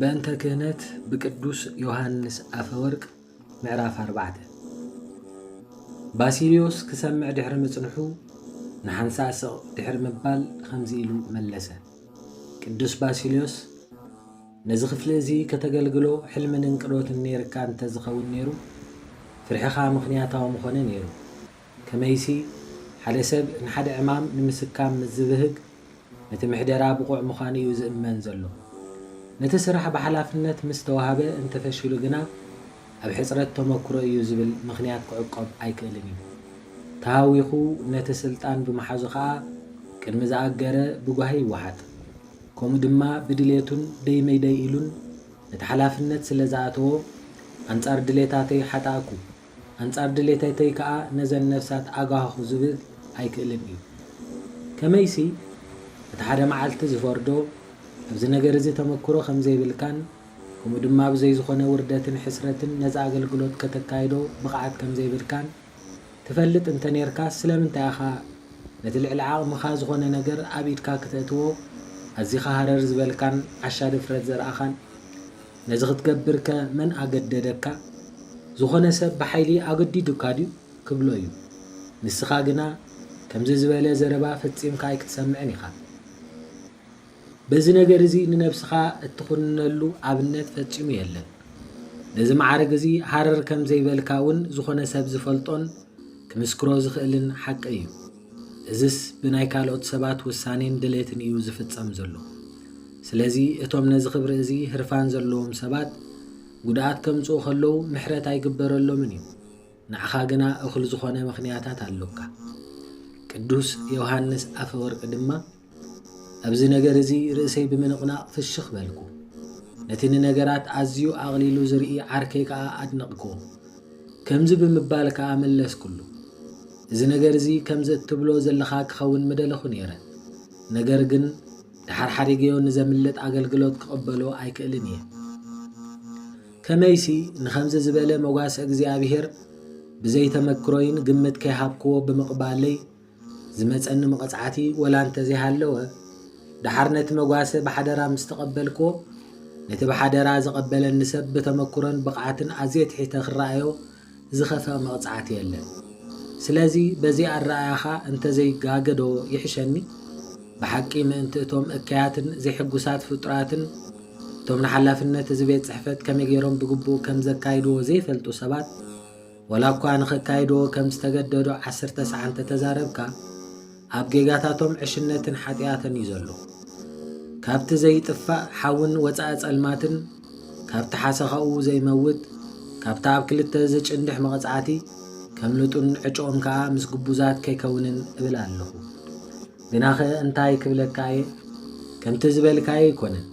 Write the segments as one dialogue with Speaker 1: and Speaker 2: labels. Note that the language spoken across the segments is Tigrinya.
Speaker 1: በእንተ ክህነት ብቅዱስ ዮሃንስ ኣፈወርቅ ምዕራፍ ኣርባዕተ ባሲልዮስ ክሰምዕ ድሕሪ ምጽንሑ ንሓንሳእ ስቕ ድሕሪ ምባል ኸምዚ ኢሉ መለሰ። ቅዱስ ባሲልዮስ ነዚ ክፍሊ እዚ ከተገልግሎ ሕልምን እንቅዶትን ነይርካ እንተ ዝኸውን ነይሩ ፍርሕኻ ምኽንያታዊ ምኾነ ነይሩ። ከመይሲ፣ ሓደ ሰብ ንሓደ ዕማም ንምስካም ምስ ዚብህግ፣ ነቲ ምሕደራ ብቑዕ ምዃኑ እዩ ዚእመን ዘሎ። ነቲ ስራሕ ብሓላፍነት ምስ ተዋህበ እንተ ፈሺሉ ግና፣ ኣብ ሕጽረት ተመክሮ እዩ ዚብል ምኽንያት ኪዕቈብ ኣይክእልን እዩ። ተሃዊኹ ነቲ ስልጣን ብምሓዙ ኸኣ፣ ቅድሚ ዝኣገረ ብጓሂ ይወሓጥ። ከምኡ ድማ ብድሌቱን ደይ መይደይ ኢሉን ነቲ ሓላፍነት ስለ ዝኣተዎ፣ ኣንጻር ድሌታተይ ሓጣእኩ፣ ኣንጻር ድሌተተይ ከኣ ነዘን ነፍሳት ኣጋህኹ ዝብል ኣይክእልን እዩ። ከመይሲ፣ እቲ ሓደ መዓልቲ ዚፈርዶ፣ ኣብዚ ነገር እዚ ተመክሮ ኸም ዘይብልካን ከምኡ ድማ ብዘይ ዝዀነ ውርደትን ሕስረትን ነዚ ኣገልግሎት ከተካይዶ ብቕዓት ከም ዘይብልካን ትፈልጥ እንተ ኔርካስ ስለምንታይ ኢኻ ነቲ ልዕሊ ዓቕምኻ ዝዀነ ነገር ኣብ ኢድካ ክተእትዎ ኣዚኻ ሃረር ዝበልካን ዓሻ ድፍረት ዘርኣኻን? ነዚ ክትገብርከ መን ኣገደደካ? ዝኾነ ሰብ ብሓይሊ ኣገዲዱካ ድዩ? ክብሎ እዩ። ንስኻ ግና ከምዚ ዝበለ ዘረባ ፈጺምካ ኣይክትሰምዕን ኢኻ። በዚ ነገር እዚ ንነብስኻ እትኹንነሉ ኣብነት ፈጺሙ የለን። ነዚ መዓርግ እዚ ሃረር ከም ዘይበልካ እውን ዝኾነ ሰብ ዝፈልጦን ክምስክሮ ዝኽእልን ሓቂ እዩ። እዝስ ብናይ ካልኦት ሰባት ውሳኔን ድሌትን እዩ ዝፍጸም ዘሎ። ስለዚ እቶም ነዚ ክብሪ እዚ ህርፋን ዘለዎም ሰባት ጉድኣት ከምጽኡ ከለዉ ምሕረት ኣይግበረሎምን እዩ። ንዓኻ ግና እኹል ዝኾነ ምኽንያታት ኣሎካ። ቅዱስ ዮውሃንስ ኣፈወርቂ ድማ፣ ኣብዚ ነገር እዚ ርእሰይ ብምንቕናቕ ፍሽኽ በልኩ። ነቲ ንነገራት ኣዝዩ ኣቕሊሉ ዝርኢ ዓርከይ ከኣ ኣድነቕክዎ። ከምዚ ብምባል ከኣ መለስኩሉ፣ እዚ ነገር እዚ ከምዚ እትብሎ ዘለኻ ክኸውን ምደለኹ ነይረ። ነገር ግን ደሓር ሓዲገዮ ንዘምልጥ ኣገልግሎት ክቕበሎ ኣይክእልን እየ። ከመይሲ ንኸምዚ ዝበለ መጓሰ እግዚኣብሄር ብዘይ ተመክሮይን ግምት ከይሃብክዎ ብምቕባለይ ዝመጸኒ መቐጽዓቲ ወላ እንተ ዘይሃለወ፣ ደሓር ነቲ መጓሰ ብሓደራ ምስ ተቐበልክዎ፣ ነቲ ብሓደራ ዝቐበለኒ ሰብ ብተመኩሮን ብቕዓትን ኣዝየ ትሒተ ክረኣዮ ዝኸፍእ መቕጽዓቲ የለን። ስለዚ በዚ ኣረኣእያኻ እንተ ዘይጋገዶ ይሕሸኒ? ብሓቂ ምእንቲ እቶም እከያትን ዘይሕጉሳት ፍጡራትን እቶም ንሓላፍነት እዚ ቤት ጽሕፈት ከመይ ገይሮም ብግቡእ ከም ዘካይድዎ ዘይፈልጡ ሰባት፣ ወላ እኳ ንኸካይድዎ ከም ዝተገደዱ ዓስር ተስዓ እንተ ተዛረብካ፣ ኣብ ጌጋታቶም ዕሽነትን ሓጥያትን እዩ ዘሎ። ካብቲ ዘይጥፋእ ሓውን ወጻኢ ጸልማትን፣ ካብቲ ሓሰኻኡ ዘይመውት፣ ካብቲ ኣብ ክልተ ዝጭንድሕ መቐጻዕቲ ከምልጡን ዕጭኦም ከኣ ምስ ግቡዛት ከይከውንን እብል ኣለኹ። ግናኸ እንታይ ክብለካ እየ፣ ከምቲ ዝበልካዮ ኣይኮነን።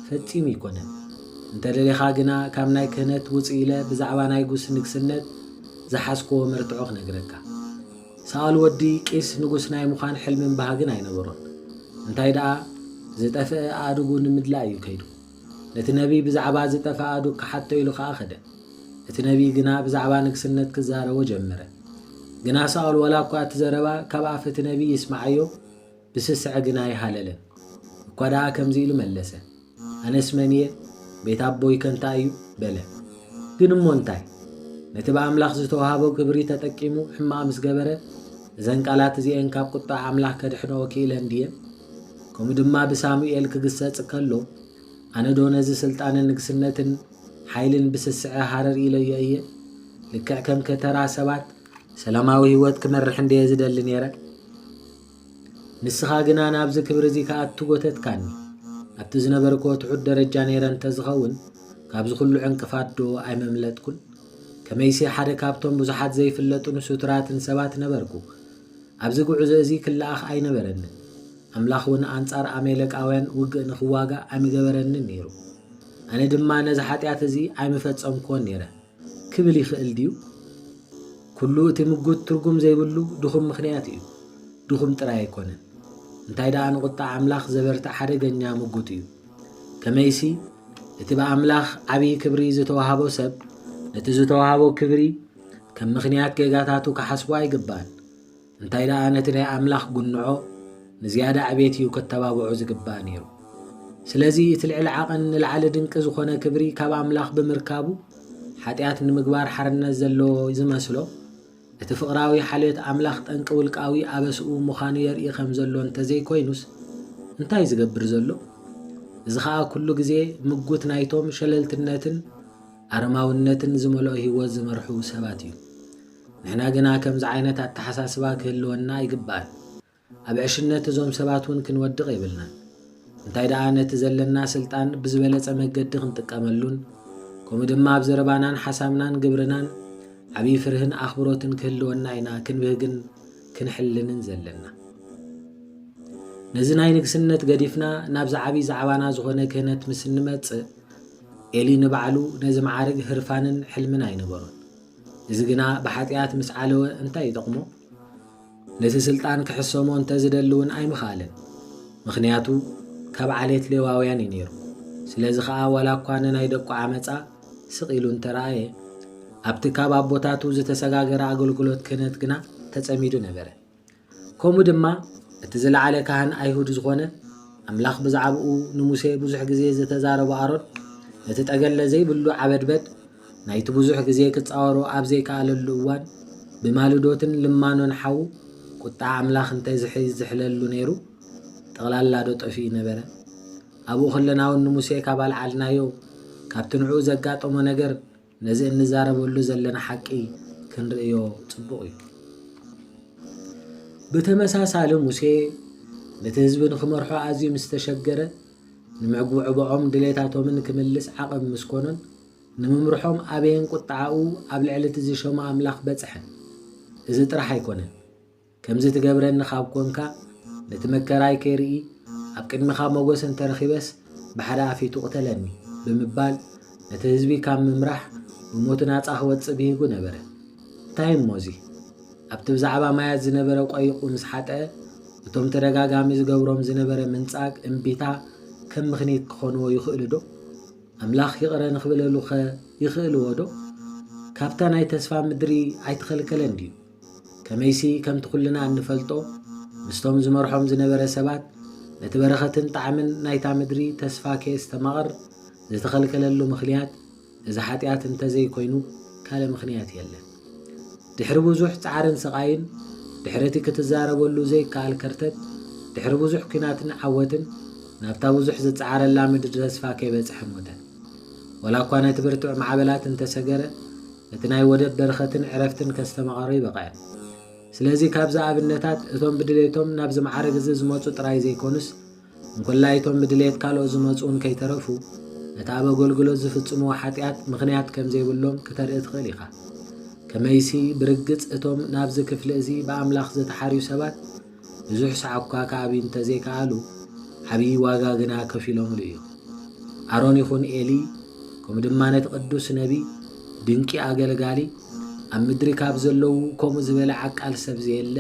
Speaker 1: ፈጺሙ እይኮነን እንተ ደሊኻ ግና ካብ ናይ ክህነት ውጽእ ኢለ ብዛዕባ ናይ ጉስ ንግስነት ዝሓዝኩዎ መርትዖ ክነግረካ። ሳኦል ወዲ ቂስ ንጉስ ናይ ምዃን ሕልምን ባህግን ኣይነበሮን እንታይ ደኣ ዝጠፍእ ኣእዱጉ ንምድላይ እዩ ከይዱ። ነቲ ነቢይ ብዛዕባ ዝጠፍእ ኣእዱግ ክሓቶ ኢሉ ከኣ ከደ። እቲ ነቢይ ግና ብዛዕባ ንግስነት ክዛረቦ ጀመረ። ግና ሳኦል ዋላ እኳ እቲ ዘረባ ካብ ኣፍ እቲ ነቢይ ይስምዓዮ፣ ብስስዐ ግን ኣይሃለለን። እኳ ደኣ ከምዚ ኢሉ መለሰ፣ ኣነስ መን እየ? ቤት ኣቦይ ከ እንታይ እዩ? በለ። ግን እሞ እንታይ? ነቲ ብኣምላኽ ዝተወሃቦ ክብሪ ተጠቂሙ ሕማቕ ምስ ገበረ፣ እዘን ቃላት እዚኤን ካብ ቁጥዓ ኣምላኽ ከድሕንኦ ክኢለን ድየን? ከምኡ ድማ ብሳሙኤል ክግሰጽ ከሎ፣ ኣነዶ ነዚ ስልጣንን ንግስነትን ሓይልን ብስስዐ ሃረር ኢለዮ እየ? ልክዕ ከም ከተራ ሰባት ሰላማዊ ህይወት ክመርሕ እንድየ ዝደሊ ነይረ። ንስኻ ግና ናብዚ ክብሪ'ዚ ክኣቱ ጎተትካኒ። ኣብቲ ዝነበርክዎ ትሑት ደረጃ ነይረ እንተ ዝኸውን፣ ካብዚ ኵሉ ዕንቅፋትዶ ኣይመምለጥኩን? ከመይሲ ሓደ ካብቶም ብዙሓት ዘይፍለጡን ሱቱራትን ሰባት ነበርኩ። ኣብዚ ጕዕዞ'ዚ ክለኣኽ ኣይነበረንን። ኣምላኽ'ውን ኣንጻር ኣሜሌቃውያን ውግእ ንኽዋጋእ ኣይምገበረንን ነይሩ። ኣነ ድማ ነዚ ሓጢኣት'ዚ ኣይምፈጸምክዎን ነይረ። ክብል ይኽእል ድዩ? ኩሉ እቲ ምጉት ትርጉም ዘይብሉ ድኹም ምኽንያት እዩ። ድኹም ጥራይ ኣይኮነን፣ እንታይ ደኣ ንቑጣ ኣምላኽ ዘበርትዕ ሓደገኛ ምጉት እዩ። ከመይሲ፣ እቲ ብኣምላኽ ዓብዪ ክብሪ ዝተዋህቦ ሰብ፣ ነቲ ዝተዋህቦ ክብሪ ከም ምኽንያት ጌጋታቱ ክሓስቦ ኣይግባእን። እንታይ ደኣ ነቲ ናይ ኣምላኽ ጕንዖ ንዝያዳ ዕቤት እዩ ከተባብዖ ዝግባእ ነይሩ። ስለዚ እቲ ልዕሊ ዓቐን ንላዕሊ ድንቂ ዝኾነ ክብሪ ካብ ኣምላኽ ብምርካቡ ሓጢኣት ንምግባር ሓርነት ዘለዎ ዝመስሎ እቲ ፍቕራዊ ሓልዮት ኣምላኽ ጠንቂ ውልቃዊ ኣበስኡ ምዃኑ የርኢ ከም ዘሎ እንተ ዘይኮይኑስ እንታይ እዩ ዝገብር ዘሎ? እዚ ኸኣ ኩሉ ግዜ ምጉት ናይቶም ሸለልትነትን ኣረማውነትን ዝመልኦ ህይወት ዝመርሑ ሰባት እዩ። ንሕና ግና ከምዚ ዓይነት ኣተሓሳስባ ክህልወና ኣይግባእን። ኣብ ዕሽነት እዞም ሰባት እውን ክንወድቕ የብልናን። እንታይ ደኣ ነቲ ዘለና ስልጣን ብዝበለጸ መገዲ ክንጥቀመሉን ከምኡ ድማ ኣብ ዘረባናን ሓሳብናን ግብርናን ዓብዪ ፍርህን ኣኽብሮትን ክህልወና ኢና ክንብህግን ክንሕልንን ዘለና። ነዚ ናይ ንግስነት ገዲፍና ናብዚ ዓብዪ ዛዕባና ዝኾነ ክህነት ምስ እንመጽእ ኤሊ ንባዕሉ ነዚ መዓርግ ህርፋንን ሕልምን ኣይነበሮን። እዚ ግና ብሓጢኣት ምስ ዓለወ እንታይ ይጠቕሞ? ነቲ ስልጣን ክሕሰሞ እንተ ዝደሊ እውን ኣይምኸኣለን። ምኽንያቱ ካብ ዓሌት ሌዋውያን እዩ ነይሩ። ስለዚ ኸኣ ዋላ እኳ ንናይ ደቁ ዓመጻ ስቕ ኢሉ እንተ ረኣየ፣ ኣብቲ ካብ ኣቦታቱ ዝተሰጋገረ ኣገልግሎት ክህነት ግና ተጸሚዱ ነበረ። ከምኡ ድማ እቲ ዝለዓለ ካህን ኣይሁድ ዝኾነ፣ ኣምላኽ ብዛዕባኡ ንሙሴ ብዙሕ ግዜ ዝተዛረቦ ኣሮን፣ ነቲ ጠገለ ዘይብሉ ዓበድበድ ናይቲ ብዙሕ ግዜ ክጻወሮ ኣብ ዘይከኣለሉ እዋን፣ ብማልዶትን ልማኖን ሓው ቁጥዓ ኣምላኽ እንተ ዝሕለሉ ነይሩ፣ ጠቕላላዶ ጠፊኡ ነበረ? ኣብኡ ከለናውን ንሙሴ ካብ ኣልዓልናዮ፣ ካብቲ ንዕኡ ዘጋጠሞ ነገር፣ ነዚ እንዛረበሉ ዘለና ሓቂ ክንርእዮ ጽቡቕ እዩ። ብተመሳሳሊ ሙሴ ነቲ ህዝቢ ንክመርሖ ኣዝዩ ምስ ተሸገረ ንምዕጉዕቦዖም ድሌታቶምን ክምልስ ዓቐብ ምስ ኮነን ንምምርሖም ኣበየን ቁጥዓኡ ኣብ ልዕሊ እቲ ዝሸሞ ኣምላኽ በጽሐ። እዚ ጥራሕ ኣይኮነን። ከምዚ ትገብረኒ ካብ ኮንካ ነቲ መከራይ ከይርኢ ኣብ ቅድሚኻ ሞገስ እንተ ረኺበስ ብሓደ ኣፊቱ ቅተለኒ ብምባል ነቲ ህዝቢ ካብ ምምራሕ ብሞቱ ናጻ ክወጽእ ብሂጉ ነበረ። እንታይ እሞ እዚ ኣብቲ ብዛዕባ ማያት ዝነበረ ቆይቁ ምስ ሓጠ እቶም ተደጋጋሚ ዝገብሮም ዝነበረ ምንጻግ እምቢታ ከም ምኽኒት ክኾንዎ ይኽእልዶ? ኣምላኽ ይቕረ ንክብለሉኸ ይኽእልዎዶ? ካብታ ናይ ተስፋ ምድሪ ኣይተኸልከለን ድዩ? ከመይሲ ከምቲ ኩልና እንፈልጦ ምስቶም ዝመርሖም ዝነበረ ሰባት ነቲ በረኸትን ጣዕምን ናይታ ምድሪ ተስፋ ከየስተማቕር ዝተኸልከለሉ ምኽንያት እዚ ሓጢኣት እንተዘይኮይኑ ካልእ ምኽንያት የለን። ድሕሪ ብዙሕ ጻዕርን ስቓይን ድሕሪ እቲ ክትዛረበሉ ዘይከኣል ከርተት ድሕሪ ብዙሕ ኲናትን ዓወትን ናብታ ብዙሕ ዝጸዓረላ ምድሪ ተስፋ ከይበጽሐ ሞተ። ወላኳ ነቲ ብርቱዕ ማዕበላት እንተሰገረ እቲ ናይ ወደብ በረኸትን ዕረፍትን ከስተማቐሮ ይበቕዕን። ስለዚ ካብዚ ኣብነታት እቶም ብድሌቶም ናብዚ መዓርግዚ ዝመጹ ጥራይ ዘይኮኑስ እንኮላይቶም ብድሌት ካልኦት ዝመጹውን ከይተረፉ ነቲ ኣብ ኣገልግሎት ዝፍጽምዎ ሓጢኣት ምኽንያት ከም ዘይብሎም ክተርኢ ትኽእል ኢኻ። ከመይሲ ብርግጽ እቶም ናብዚ ክፍሊ እዚ ብኣምላኽ ዝተሓርዩ ሰባት ብዙሕ ሰዓብኳ ክኣቢ እንተዘይከኣሉ ዓብዪ ዋጋ ግና ከፊሎምሉ እዮም። ኣሮን ይኹን ኤሊ ከምኡ ድማ ነቲ ቅዱስ ነቢይ ድንቂ ኣገልጋሊ ኣብ ምድሪ ካብ ዘለዉ ከምኡ ዝበለ ዓቃል ሰብ ዘየለ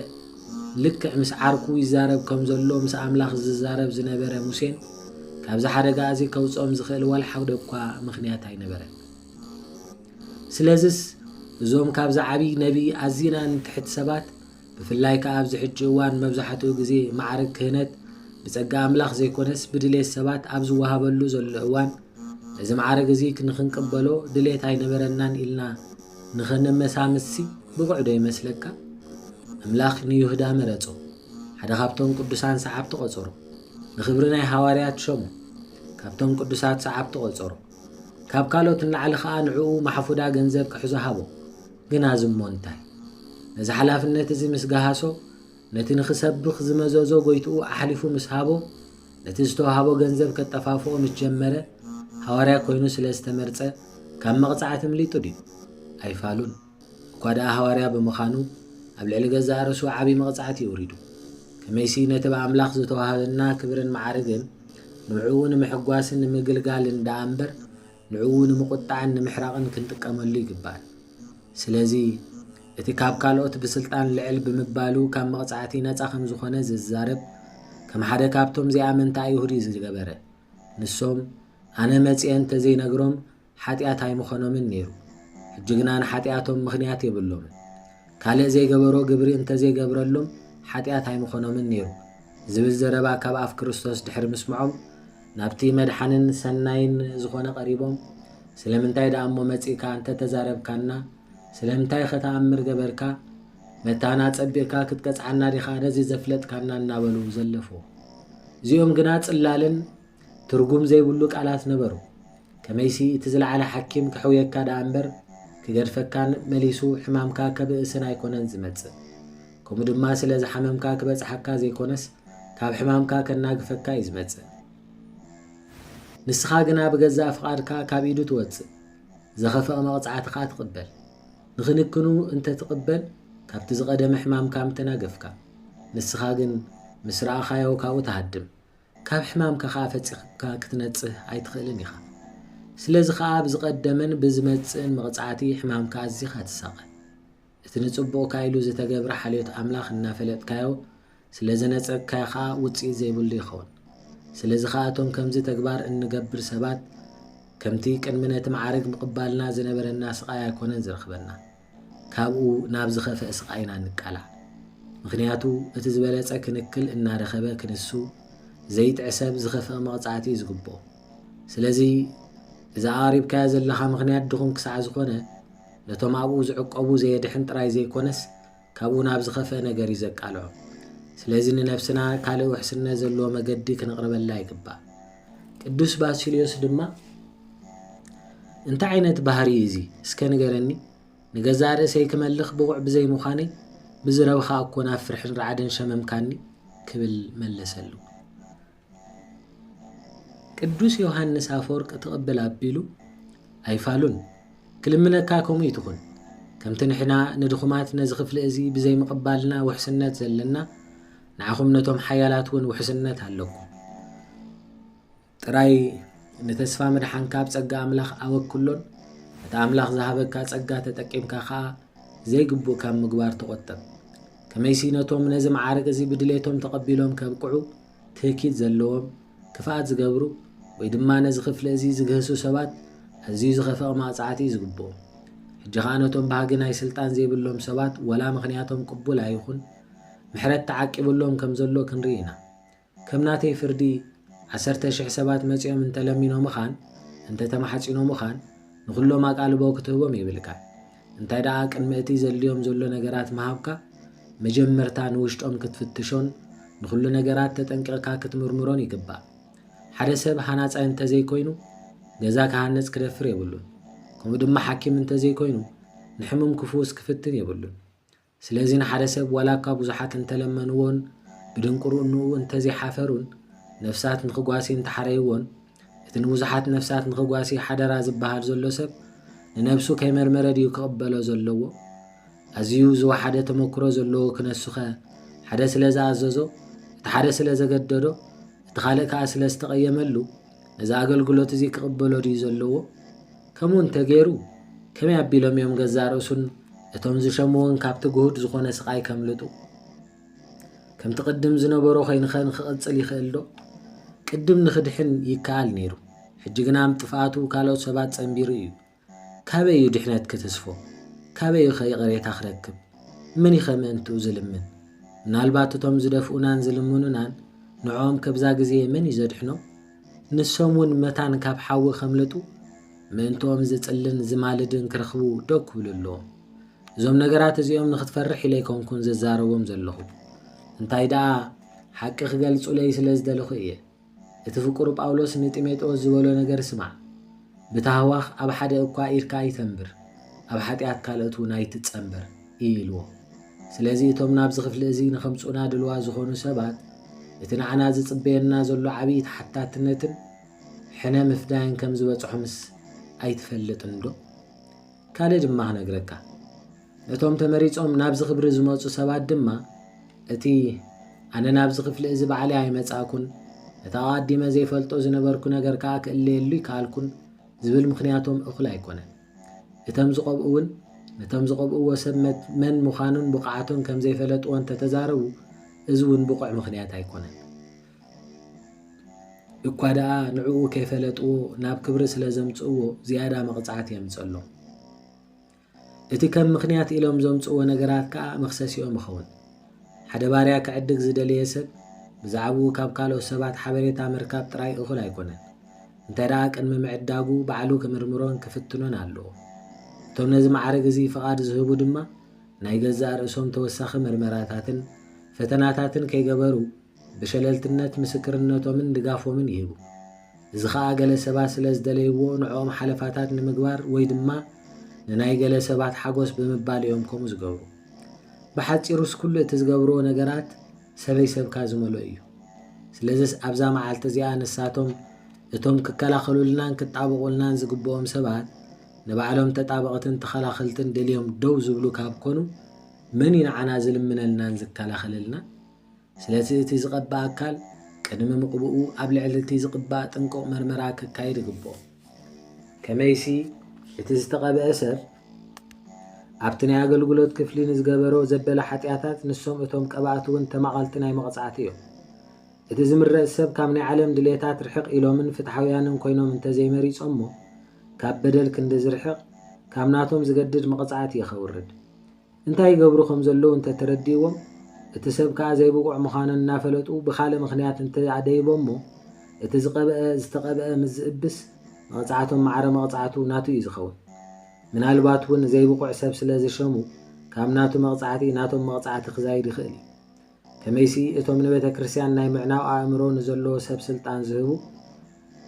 Speaker 1: ልክዕ ምስ ዓርኩ ይዛረብ ከም ዘሎ ምስ ኣምላኽ ዝዛረብ ዝነበረ ሙሴን ካብዚ ሓደጋ እዚ ከውጽኦም ዝኽእል ዋላ ሓደ እኳ ምኽንያት ኣይነበረን። ስለዝስ እዞም ካብዚ ዓብዪ ነቢይ ኣዚና ንትሕት ሰባት ብፍላይ ከኣ ኣብዚ ሕጂ እዋን መብዛሕትኡ ግዜ ማዕርግ ክህነት ብጸጋ ኣምላኽ ዘይኮነስ ብድሌት ሰባት ኣብ ዝወሃበሉ ዘሎ እዋን ነዚ ማዕርግ እዚ ንኽንቅበሎ ድሌት ኣይነበረናን ኢልና ንኸነመሳምስሲ ብቑዕ ዶ ይመስለካ? እምላኽ ንዩህዳ መረጾ። ሓደ ካብቶም ቅዱሳን ሰዓብቲ ቆጸሮ። ንኽብሪ ናይ ሃዋርያት ሸሞ። ካብቶም ቅዱሳት ሰዓብቲ ቆጸሮ። ካብ ካልኦት ንላዕሊ ከኣ ንዕኡ ማሕፉዳ ገንዘብ ክሕዞ ሃቦ። ግና እዚ እሞ እንታይ? ነዚ ሓላፍነት እዚ ምስ ገሃሶ፣ ነቲ ንኽሰብኽ ዝመዘዞ ጐይትኡ ኣሕሊፉ ምስ ሃቦ፣ ነቲ ዝተዋህቦ ገንዘብ ከጠፋፍኦ ምስ ጀመረ፣ ሃዋርያ ኰይኑ ስለ ዝተመርጸ ካብ መቕጻዕቲ እምሊጡ ድዩ? ኣይፋሉን። እኳ ደኣ ሃዋርያ ብምኻኑ ኣብ ልዕሊ ገዛእ ርእሱ ዓቢ መቕጻዕቲ የውሪዱ። ከመይሲ ነቲ ብኣምላኽ ዝተዋህበና ክብርን መዓርግን ንዕኡ ንምሕጓስን ንምግልጋልን ደኣ እምበር፣ ንዕኡ ንምቑጣዕን ንምሕራቕን ክንጥቀመሉ ይግባእ። ስለዚ፣ እቲ ካብ ካልኦት ብስልጣን ልዕል ብምባሉ ካብ መቕጻዕቲ ነጻ ከም ዝዀነ ዝዛረብ፣ ከም ሓደ ካብቶም ዘይኣመንቲ ኣይሁድ እዩ ዝገበረ። ንሶም፣ ኣነ መጺኤ እንተ ዘይነግሮም ሓጢኣት ኣይምዀኖምን ነይሩ። ሕጂ ግና ንሓጢኣቶም ምኽንያት የብሎምን። ካልእ ዘይገበሮ ግብሪ እንተ ዘይገብረሉም ሓጢኣት ኣይምዀኖምን ነይሩ ዝብል ዘረባ ካብ ኣፍ ክርስቶስ ድሕሪ ምስምዖም፣ ናብቲ መድሓንን ሰናይን ዝኾነ ቀሪቦም ስለምንታይ ደኣ እሞ መጺእካ እንተተዛረብካና ስለምንታይኸ ተኣምር ገበርካ መታን ኣጸቢቕካ ክትቀጽዓና ዲኻ ነዚ ዘፍለጥካና እናበሉ ዘለፍዎ እዚኦም ግና ጽላልን ትርጉም ዘይብሉ ቃላት ነበሩ ከመይሲ እቲ ዝለዓለ ሓኪም ከሕውየካ ደኣ እምበር ክገድፈካን መሊሱ ሕማምካ ከብእስን ኣይኮነን ዝመጽእ። ከምኡ ድማ ስለ ዝሓመምካ ክበጽሓካ ዘይኮነስ ካብ ሕማምካ ከናግፈካ እዩ ዝመጽእ። ንስኻ ግና ብገዛእ ፍቓድካ ካብ ኢዱ ትወጽእ፣ ዘኸፍእ መቕጻዕቲ ከኣ ትቕበል። ንክንክኑ እንተ ትቕበል ካብቲ ዝቐደመ ሕማምካ ምተናገፍካ። ንስኻ ግን ምስ ረኣኻዮ ካብኡ ትሃድም፣ ካብ ሕማምካ ከኣ ፈጺኽካ ክትነጽህ ኣይትኽእልን ኢኻ። ስለዚ ከኣ ብዝቐደመን ብዝመጽእን መቕጻዕቲ ሕማምካ ኣዚኻ ትሳቐ። እቲ ንጽቡቕካ ኢሉ ዝተገብረ ሓልዮት ኣምላኽ እናፈለጥካዮ ስለ ዝነጸግካዮ ከኣ ውጽኢት ዘይብሉ ይኸውን። ስለዚ ከኣ እቶም ከምዚ ተግባር እንገብር ሰባት ከምቲ ቅድሚ ነቲ መዓርግ ምቕባልና ዝነበረና ስቓይ ኣይኮነን ዝረኽበና። ካብኡ ናብ ዝኸፈእ ስቓይ ኢና እንቃላዕ። ምኽንያቱ እቲ ዝበለጸ ክንክል እናረኸበ ክንሱ ዘይጥዕ ሰብ ዝኸፈእ መቕጻእቲ እዩ ዝግብኦ። ስለዚ እዚ ኣቕሪብካዮ ዘለኻ ምኽንያት ድኹም ክሳዕ ዝኾነ ነቶም ኣብኡ ዝዕቆቡ ዘየድሕን ጥራይ ዘይኮነስ ካብኡ ናብ ዝኸፈእ ነገር እዩ ዘቃልዖም። ስለዚ ንነብስና ካልእ ውሕስነት ዘለዎ መገዲ ክንቕርበላ ይግባእ። ቅዱስ ባሲልዮስ ድማ እንታይ ዓይነት ባህሪ እዩ እዚ እስከ ንገረኒ ንገዛእ ርእሰይ ክመልኽ ብቑዕ ብዘይ ምዃነይ ብዝረብኻ እኮ ናብ ፍርሕን ራዕድን ሸመምካኒ ክብል መለሰሉ ቅዱስ ዮሃንስ ኣፈወርቅ ትቕብል ኣቢሉ ኣይፋሉን ክልምነካ ከምኡ ይትኹን ከምቲ ንሕና ንድኹማት ነዚ ክፍሊ እዚ ብዘይ ምቕባልና ውሕስነት ዘለና ንዓኹም ነቶም ሓያላት እውን ውሕስነት ኣለኩም። ጥራይ ንተስፋ ምድሓንካ ኣብ ጸጋ ኣምላኽ ኣወክሎን እቲ ኣምላኽ ዝሃበካ ጸጋ ተጠቂምካ ከኣ ዘይግቡእ ካብ ምግባር ተቖጠብ። ከመይሲ ነቶም ነዚ መዓርግ እዚ ብድሌቶም ተቐቢሎም ከብቅዑ ትህኪት ዘለዎም፣ ክፍኣት ዝገብሩ፣ ወይ ድማ ነዚ ክፍሊ እዚ ዝግህሱ ሰባት ኣዝዩ ዝኸፍኣ መቕጻዕቲ እዩ ዝግብኦም። ሕጂ ኸኣ ነቶም ባህጊ ናይ ስልጣን ዘይብሎም ሰባት ወላ ምኽንያቶም ቅቡል ኣይኹን፣ ምሕረት ተዓቂብሎም ከም ዘሎ ክንርኢ ኢና። ከም ናተይ ፍርዲ ዓሰርተ ሽሕ ሰባት መጺኦም እንተ ለሚኖምኻን እንተ ተማሕጺኖምኻን ንኹሎም ኣቓልቦ ክትህቦም የብልካን። እንታይ ደኣ ቅድሚ እቲ ዘድልዮም ዘሎ ነገራት ምሃብካ መጀመርታ ንውሽጦም ክትፍትሾን ንኹሉ ነገራት ተጠንቂቕካ ክትምርምሮን ይግባእ። ሓደ ሰብ ሃናጻይ እንተ ዘይኮይኑ ገዛ ክሃንጽ ክደፍር የብሉን። ከምኡ ድማ ሓኪም እንተ ዘይኮይኑ ንሕሙም ክፍውስ ክፍትን የብሉን። ስለዚ ንሓደ ሰብ ዋላ እኳ ብዙሓት እንተ ለመንዎን ብድንቁርንኡ እንተ ዘይሓፈሩን ነፍሳት ንኽጓሲ እንተ ሓረይዎን እቲ ንብዙሓት ነፍሳት ንኽጓሲ ሓደራ ዝበሃል ዘሎ ሰብ ንነብሱ ከይመርመረ ድዩ ክቕበሎ ዘለዎ? ኣዝዩ ዝወሓደ ተመክሮ ዘለዎ ክነሱኸ ሓደ ስለ ዝኣዘዞ፣ እቲ ሓደ ስለ ዘገደዶ፣ እቲ ካልእ ከኣ ስለ ዝተቐየመሉ ነዚ ኣገልግሎት እዚ ክቕበሎ ድዩ ዘለዎ? ከምኡ እንተ ገይሩ፣ ከመይ ኣቢሎም እዮም ገዛእ ርእሱን እቶም ዝሸምዎን ካብቲ ግሁድ ዝኾነ ስቓይ ከምልጡ? ከምቲ ቅድም ዝነበሮ ዀይኑኸ ንኽቕጽል ይኽእልዶ? ቅድም ንኽድሕን ይከኣል ነይሩ፣ ሕጂ ግና ብ ጥፍኣቱ ካልኦት ሰባት ጸንቢሩ እዩ። ካበይ እዩ ድሕነት ክትስፎ? ካበይ እዩኸ ይቕሬታ ክረክብ? መን እዩኸ ምእንትኡ ዝልምን? ምናልባት እቶም ዝደፍኡናን ዝልምኑናን ንዕኦም ከብዛ ግዜ መን እዩ ዘድሕኖም? ንሶም ውን መታን ካብ ሓዊ ከምለጡ ምእንትኦም ዝጽልን ዝማልድን ክረኽቡ ደው ክብሉ ኣለዎም። እዞም ነገራት እዚኦም ንኽትፈርሕ ኢለ ኣይኮንኩን ዝዛረቦም ዘለኹ እንታይ ደኣ ሓቂ ክገልጹለይ ስለ ዝደለኹ እየ። እቲ ፍቁር ጳውሎስ ንጢሞጤዎስ ዝበሎ ነገር ስማዕ። ብታህዋኽ ኣብ ሓደ እኳ ኢድካ ኣይተንብር፣ ኣብ ሓጢኣት ካልኦት እውን ኣይትጸንበር እዩ ኢልዎ። ስለዚ እቶም ናብዚ ክፍሊ እዚ ንኸምጽኡና ድልዋት ዝኾኑ ሰባት እቲ ንዓና ዝጽበየና ዘሎ ዓብዪ ተሓታትነትን ሕነ ምፍዳይን ከም ዝበጽሖምስ ኣይትፈልጥንዶ? ካልእ ድማ ክነግረካ። ነቶም ተመሪጾም ናብዚ ክብሪ ዝመጹ ሰባት ድማ፣ እቲ ኣነ ናብዚ ክፍሊ እዚ ባዕለይ ኣይመጻእኩን፣ ነቲ ኣቓዲመ ዘይፈልጦ ዝነበርኩ ነገር ከኣ ክእለየሉ ኣይከኣልኩን ዝብል ምኽንያቶም እኹል ኣይኮነን። እተም ዝቐብኡ እውን ነቶም ዝቐብእዎ ሰብ መን ምዃኑን ብቕዓቱን ከም ዘይፈለጥዎ እንተ ተዛረቡ፣ እዚ እውን ብቑዕ ምኽንያት ኣይኮነን። እኳ ደኣ ንዕኡ ከይፈለጥዎ ናብ ክብሪ ስለ ዘምጽእዎ ዝያዳ መቕጻዕቲ የምጽእሎም። እቲ ከም ምኽንያት ኢሎም ዘምጽእዎ ነገራት ከኣ መኽሰሲኦም ይኸውን። ሓደ ባርያ ክዕድግ ዝደለየ ሰብ ብዛዕብኡ ካብ ካልኦት ሰባት ሓበሬታ ምርካብ ጥራይ እኹል ኣይኮነን፣ እንተ ደኣ ቅድሚ ምዕዳጉ ባዕሉ ክምርምሮን ክፍትኖን ኣለዎ። እቶም ነዚ መዓርግ እዚ ፍቓድ ዝህቡ ድማ ናይ ገዛእ ርእሶም ተወሳኺ ምርመራታትን ፈተናታትን ከይገበሩ፣ ብሸለልትነት ምስክርነቶምን ድጋፎምን ይህቡ። እዚ ኸኣ ገለ ሰባት ስለ ዝደለይዎ ንዕኦም ሓለፋታት ንምግባር ወይ ድማ ንናይ ገለ ሰባት ሓጎስ ብምባል እዮም ከምኡ ዝገብሩ። ብሓጺሩስ ኩሉ እቲ ዝገብርዎ ነገራት ሰበይ ሰብካ ዝመልኦ እዩ። ስለዝስ ኣብዛ መዓልቲ እዚኣ ንሳቶም እቶም ክከላኸሉልናን ክጣበቑልናን ዝግብኦም ሰባት ንባዕሎም ተጣበቕትን ተኸላኸልትን ደልዮም ደው ዝብሉ ካብ ኮኑ መን እዩ ንዓና ዝልምነልናን ዝከላኸለልናን? ስለቲ እቲ ዝቐብእ ኣካል ቅድሚ ምቕብኡ ኣብ ልዕሊ እቲ ዝቕባእ ጥንቁቕ መርመራ ከካይድ ይግብኦ። ከመይሲ እቲ ዝተቐብአ ሰብ ኣብቲ ናይ ኣገልግሎት ክፍሊ ንዝገበሮ ዘበለ ሓጢኣታት ንሶም እቶም ቀባእቲ እውን ተማቐልቲ ናይ መቕጻዕቲ እዮም። እቲ ዝምረጽ ሰብ ካብ ናይ ዓለም ድሌታት ርሕቕ ኢሎምን ፍትሓውያንን ኮይኖም እንተዘይመሪጾሞ ካብ በደል ክንዲ ዝርሕቕ ካብ ናቶም ዝገድድ መቐጻዕቲ ኢዩ ከውርድ። እንታይ ይገብሩ ከም ዘለዉ እንተ ተረዲእዎም፣ እቲ ሰብ ከኣ ዘይብቑዕ ምዃኖን እናፈለጡ ብካልእ ምኽንያት እንተ ኣደይቦሞ፣ እቲ ዝቐብአ ዝተቐብአ ምስ ዝእብስ፣ መቕጻዕቶም ማዕረ መቕጻዕቱ ናቱ እዩ ዝኸውን። ምናልባት እውን ዘይብቑዕ ሰብ ስለ ዘሸሙ፣ ካብ ናቱ መቕጻዕቲ ናቶም መቕጻዕቲ ክዛይድ ይኽእል እዩ። ከመይሲ እቶም ንቤተ ክርስቲያን ናይ ምዕናው ኣእምሮ ንዘለዎ ሰብ ስልጣን ዝህቡ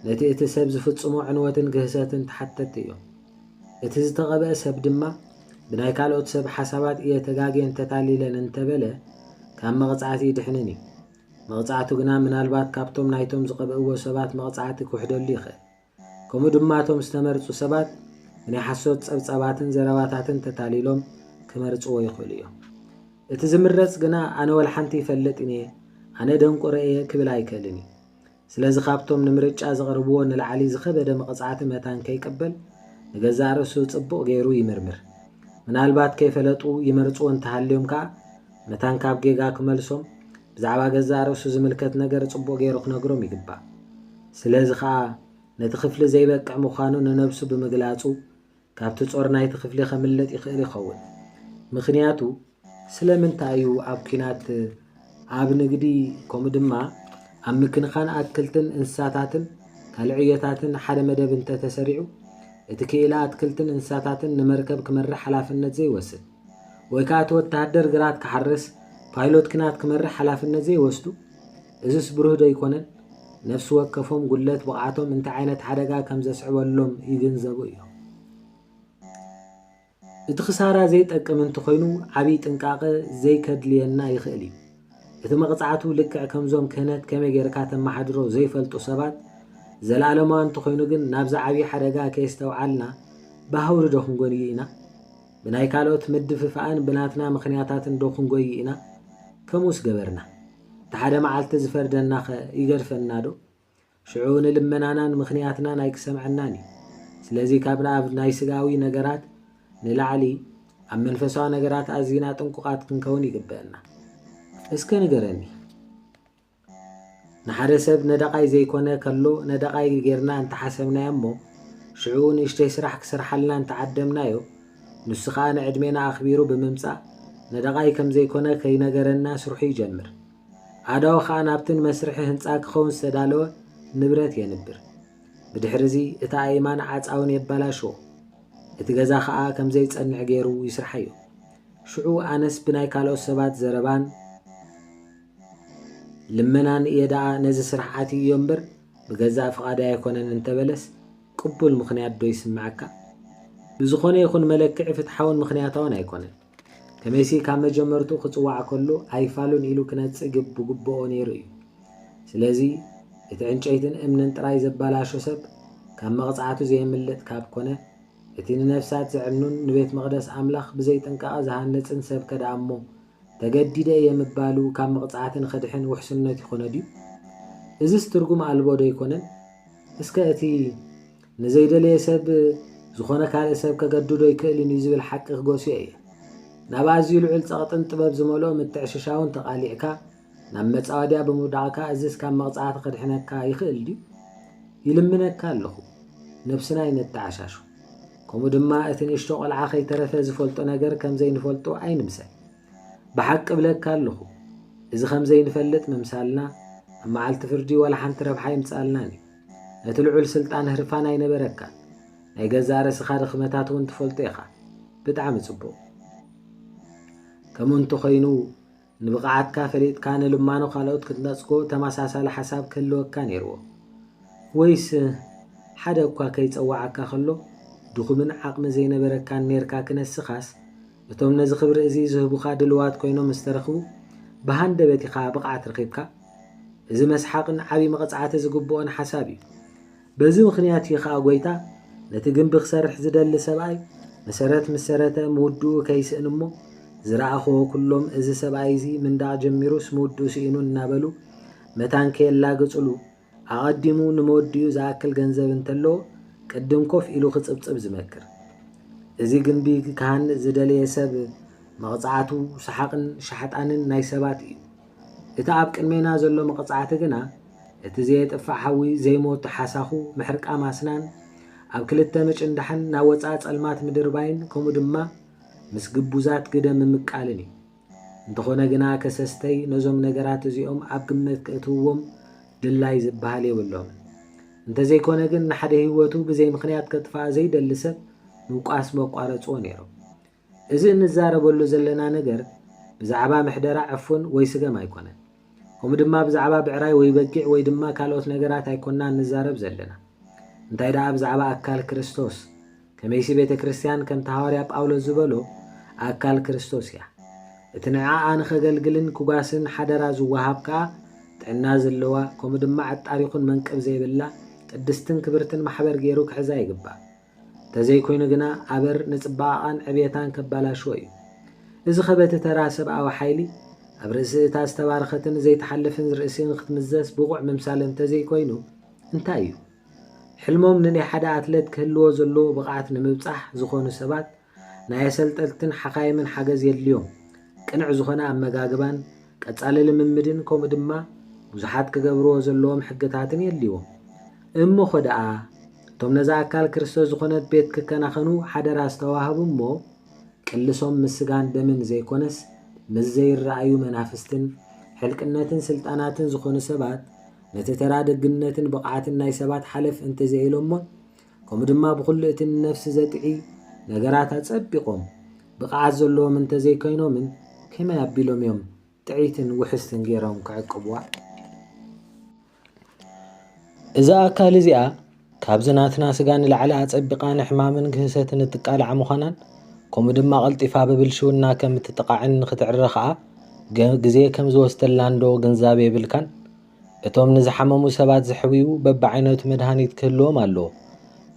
Speaker 1: ነቲ እቲ ሰብ ዝፍጽሞ ዕንወትን ግህሰትን ተሓተቲ እዮም። እቲ ዝተቐብአ ሰብ ድማ ብናይ ካልኦት ሰብ ሓሳባት እየ ተጋጌን ተታሊለን እንተበለ ካብ መቕጻዕቲ ይድሕንን እዩ። መቕጻዕቱ ግና ምናልባት ካብቶም ናይቶም ዝቐብእዎ ሰባት መቕጻዕቲ ክውሕደሉ ይኽእል። ከምኡ ድማ እቶም ዝተመርጹ ሰባት ብናይ ሓሶት ጸብጻባትን ዘረባታትን ተታሊሎም ክመርጽዎ ይኽእሉ እዮም። እቲ ዝምረጽ ግና ኣነ ወልሓንቲ ይፈልጥን እየ፣ ኣነ ደንቆሮ እየ ክብል ኣይክእልን እዩ። ስለዚ ካብቶም ንምርጫ ዘቕርብዎ ንላዕሊ ዝኸበደ መቕጻዕቲ መታን ከይቅበል ንገዛእ ርእሱ ጽቡቕ ገይሩ ይምርምር። ምናልባት ከይፈለጡ ይመርጽዎ እንተሃልዮም ከኣ መታን ካብ ጌጋ ክመልሶም ብዛዕባ ገዛእ ርእሱ ዝምልከት ነገር ጽቡቕ ገይሩ ክነግሮም ይግባእ። ስለዚ ከኣ ነቲ ክፍሊ ዘይበቅዕ ምዃኑ ንነብሱ ብምግላጹ ካብቲ ጾር ናይቲ ክፍሊ ከምልጥ ይኽእል ይኸውን። ምኽንያቱ ስለምንታይ እዩ ኣብ ኲናት፣ ኣብ ንግዲ ከምኡ ድማ ኣብ ምክንኻን ኣትክልትን እንስሳታትን ካልእ ዕዮታትን ሓደ መደብ እንተ ተሰሪዑ እቲ ክኢላ ኣትክልትን እንስሳታትን ንመርከብ ክመርሕ ሓላፍነት ዘይወስድ? ወይ ከኣ እቲ ወተሃደር ግራት ክሓርስ ፓይሎት ኪናት ክመርሕ ሓላፍነት ዘይወስዱ? እዝስ ብሩህ ዶ ኣይኮነን? ነፍሲ ወከፎም ጉድለት ብቕዓቶም እንታይ ዓይነት ሓደጋ ከም ዘስዕበሎም ይግንዘቡ እዮም። እቲ ክሳራ ዘይጠቅም እንተኾይኑ ዓብይ ጥንቃቐ ዘይከድልየና ይኽእል እዩ። እቲ መቕጻዕቱ ልክዕ ከምዞም ክህነት ከመይ ጌርካ ተመሓድሮ ዘይፈልጡ ሰባት ዘለኣለማዊ እንተኾይኑ ግን ናብዚ ዓብይ ሓደጋ ከየስተውዓልና ብሃውሪ ዶ ክንጎንዩ ኢና? ብናይ ካልኦት ምድፍፋእን ብናትና ምኽንያታትን ዶ ክንጎዪ ኢና? ከምኡስ ገበርና። እቲ ሓደ መዓልቲ ዝፈርደናኸ ይገድፈናዶ? ሽዑ ንልመናናን ምኽንያትናን ኣይክሰምዐናን እዩ። ስለዚ ካብ ኣብ ናይ ስጋዊ ነገራት ንላዕሊ ኣብ መንፈሳዊ ነገራት ኣዚና ጥንቁቓት ክንከውን ይግበእና። እስከ ንገረኒ። ንሓደ ሰብ ነዳቓይ ዘይኮነ ከሎ ነዳቓይ ጌርና እንተሓሰብናዮ እሞ ሽዑ ንእሽተይ ስራሕ ክሰርሓልና እንተዓደምናዮ ንሱ ከኣ ንዕድሜና ኣኽቢሩ ብምምጻእ ነዳቓይ ከም ዘይኮነ ከይነገረና ስርሑ ይጀምር። ኣእዳዉ ከኣ ናብቲ ንመስርሒ ህንጻ ክኸውን ዝተዳለወ ንብረት የንብር። ብድሕሪዚ እቲ ኣእማን ዓጻውን የባላሽዎ። እቲ ገዛ ከኣ ከም ዘይጸንዕ ጌሩ ይስርሓዮ። ሽዑ ኣነስ ብናይ ካልኦት ሰባት ዘረባን። ልመናን እየ ደኣ ነዚ ስራሕ ኣትይዮ እምበር ብገዛእ ፍቓደይ ኣይኮነን እንተበለስ ቅቡል ምኽንያት ዶ ይስመዐካ? ብዝኾነ ይኹን መለክዒ ፍትሓውን ምኽንያታውን ኣይኮነን። ከመይሲ ካብ መጀመርትኡ ክጽዋዕ ከሎ ኣይፋሉን ኢሉ ክነጽ ግብ ብግብኦ ነይሩ እዩ። ስለዚ እቲ ዕንጨይትን እምንን ጥራይ ዘበላሾ ሰብ ካብ መቕጻዕቱ ዘየምልጥ ካብ ኮነ እቲ ንነፍሳት ዘዕኑን ንቤት መቕደስ ኣምላኽ ብዘይ ጥንቃቐ ዝሃንጽን ሰብከ ደኣ'ሞ ተገዲደ እየ ምባሉ ካብ መቕጻዕቲ ንኽድሕን ውሕስነት ይኾኖ ድዩ? እዝስ ትርጉም ኣልቦ ዶ ኣይኮነን? እስከ እቲ ንዘይደለየ ሰብ ዝኾነ ካልእ ሰብ ከገድዶ ኣይክእልን እዩ ዝብል ሓቂ ክገስዮ እየ። ናብ ኣዝዩ ልዑል ጸቕጥን ጥበብ ዝመልኦ ምትዕሽሻውን ተቓሊዕካ፣ ናብ መጻወድያ ብምውዳቕካ እዝስ ካብ መቕጻዕቲ ከድሕነካ ይኽእል ድዩ? ይልምነካ ኣለኹ ነብስና ኣይነተዓሻሹ። ከምኡ ድማ እቲ ንእሽቶ ቆልዓ ከይተረፈ ዝፈልጦ ነገር ከም ዘይንፈልጦ ኣይንምሰል። ብሓቂ እብለካ ኣለኹ እዚ ከም ዘይንፈልጥ ምምሳልና ኣብ መዓልቲ ፍርዲ ዋላ ሓንቲ ረብሓ ኣይምጽኣልናን እዩ። ነቲ ልዑል ስልጣን ህርፋን ኣይነበረካን። ናይ ገዛእ ርእስኻ ድኽመታት እውን ትፈልጦ ኢኻ። ብጣዕሚ ጽቡቕ። ከምኡ እንተኾይኑ ንብቕዓትካ ፈሊጥካ ንልማኖ ካልኦት ክትነጽጎ ተመሳሳሊ ሓሳብ ክህልወካ ነይርዎ። ወይስ ሓደ እኳ ከይጸዋዓካ ከሎ ድኹምን ዓቕሚ ዘይነበረካን ኔርካ ክነስኻስ እቶም ነዚ ክብሪ እዚ ዝህቡኻ ድልዋት ኮይኖም ምስ ተረኽቡ ብሃንደበት ኢኻ ብቕዓት ረኺብካ? እዚ መስሓቕን ዓቢ መቕጻዕቲ ዝግብኦን ሓሳብ እዩ። በዚ ምኽንያት እዩ ኸኣ ጐይታ፣ ነቲ ግምቢ ኪሰርሕ ዚደሊ ሰብኣይ፣ መሰረት ምስ ሰረተ፣ ምውድኡ ከይስእን እሞ፣ ዝረኣኹዎ ኵሎም፣ እዚ ሰብኣይ እዚ፣ ምንዳቕ ጀሚሩስ፣ ምውድኡ ስኢኑ እናበሉ፣ መታን ከየላግጹሉ፣ ኣቐዲሙ ንመወዲኡ ዚኣክል ገንዘብ እንተለዎ፣ ቅድም ኮፍ ኢሉ ኺጽብጽብ ዚመክር። እዚ ግምቢ ኪሃንጽ ዝደለየ ሰብ፣ መቕጻዕቱ፣ ሰሓቕን ሻሕጣንን ናይ ሰባት እዩ። እቲ ኣብ ቅድሜና ዘሎ መቕጻዕቲ ግና፣ እቲ ዘየጥፍእ ሓዊ ዘይሞት ሓሳኹ ምሕርቃም ኣስናን፣ ኣብ ክልተ ምጭንዳሕን ናብ ወጻኢ ጸልማት ምድርባይን ከምኡ ድማ ምስ ግቡዛት ግደ ምምቃልን እዩ። እንተኾነ ግና ከሰስተይ ነዞም ነገራት እዚኦም ኣብ ግምት ከእትውዎም ድላይ ዝበሃል የብሎምን። እንተዘይኮነ ግን ንሓደ ህይወቱ ብዘይ ምኽንያት ከጥፍኣ ዘይደሊ ሰብ ምውቃስ መቋረጽዎ ነይሮም። እዚ እንዛረበሉ ዘለና ነገር ብዛዕባ ምሕደራ ዕፉን ወይ ስገም ኣይኮነን። ከምኡ ድማ ብዛዕባ ብዕራይ ወይ በጊዕ ወይ ድማ ካልኦት ነገራት ኣይኮናን ንዛረብ ዘለና። እንታይ ደኣ ብዛዕባ ኣካል ክርስቶስ። ከመይሲ ቤተ ክርስትያን ከምቲ ሃዋርያ ጳውሎስ ዝበሎ ኣካል ክርስቶስ እያ። እቲ ንዕኣ ንኸገልግልን ኩጋስን ሓደራ ዝወሃብ ከኣ ጥዕና ዘለዋ ከምኡ ድማ ዕጣር ይኹን መንቅብ ዘይብላ ቅድስትን ክብርትን ማሕበር ገይሩ ክሕዛ ይግባእ። ተዘይኮይኑ ግና ኣበር ንጽባቐቓን ዕብየታን ከባላሽዎ እዩ። እዚ ከበቲ ተራ ሰብኣዊ ሓይሊ፣ ኣብ ርእሲ እታ ዝተባረኸትን ዘይትሓልፍን ርእሲ ንክትምዘስ ብቑዕ ምምሳል እንተዘይኮይኑ እንታይ እዩ? ሕልሞም ንናይ ሓደ ኣትለት ክህልዎ ዘለዎ ብቕዓት ንምብጻሕ ዝኾኑ ሰባት ናይ ኣሰልጠልትን ሓኻይምን ሓገዝ የድልዮም። ቅንዕ ዝኾነ ኣመጋግባን ቀጻሊ ልምምድን ከምኡ ድማ ብዙሓት ክገብርዎ ዘለዎም ሕግታትን የድልዎም። እሞኸ ደኣ እቶም ነዛ ኣካል ክርስቶስ ዝኾነት ቤት ክከናኸኑ ሓደራ ዝተዋህቡ እሞ ቅልሶም ምስ ስጋን ደምን ዘይኮነስ ምስ ዘይረኣዩ መናፍስትን ሕልቅነትን ስልጣናትን ዝኾኑ ሰባት ነቲ ተራ ደግነትን ብቕዓትን ናይ ሰባት ሓለፍ እንተዘይኢሎሞን ከምኡ ድማ ብኹሉ እቲ ንነፍሲ ዘጥዒ ነገራት ኣጸቢቖም ብቕዓት ዘለዎም እንተ ዘይከይኖምን ከመይ ኣቢሎም እዮም ጥዕይትን ውሕስትን ገይሮም ክዕቅብዋ? እዛ ኣካል እዚኣ ካብዚ ናትና ስጋ ንላዕሊ ኣጸቢቓ ንሕማምን ግህሰትን እትቃላዕ ምዃናን ከምኡ ድማ ቐልጢፋ ብብልሽውና ከም እትጥቓዕን ንኽትዕረ ኸኣ ግዜ ከም ዝወስደላንዶ ግንዛበ የብልካን? እቶም ንዝሓመሙ ሰባት ዝሕውዩ በብዓይነቱ መድሃኒት ክህልዎም ኣለዎ።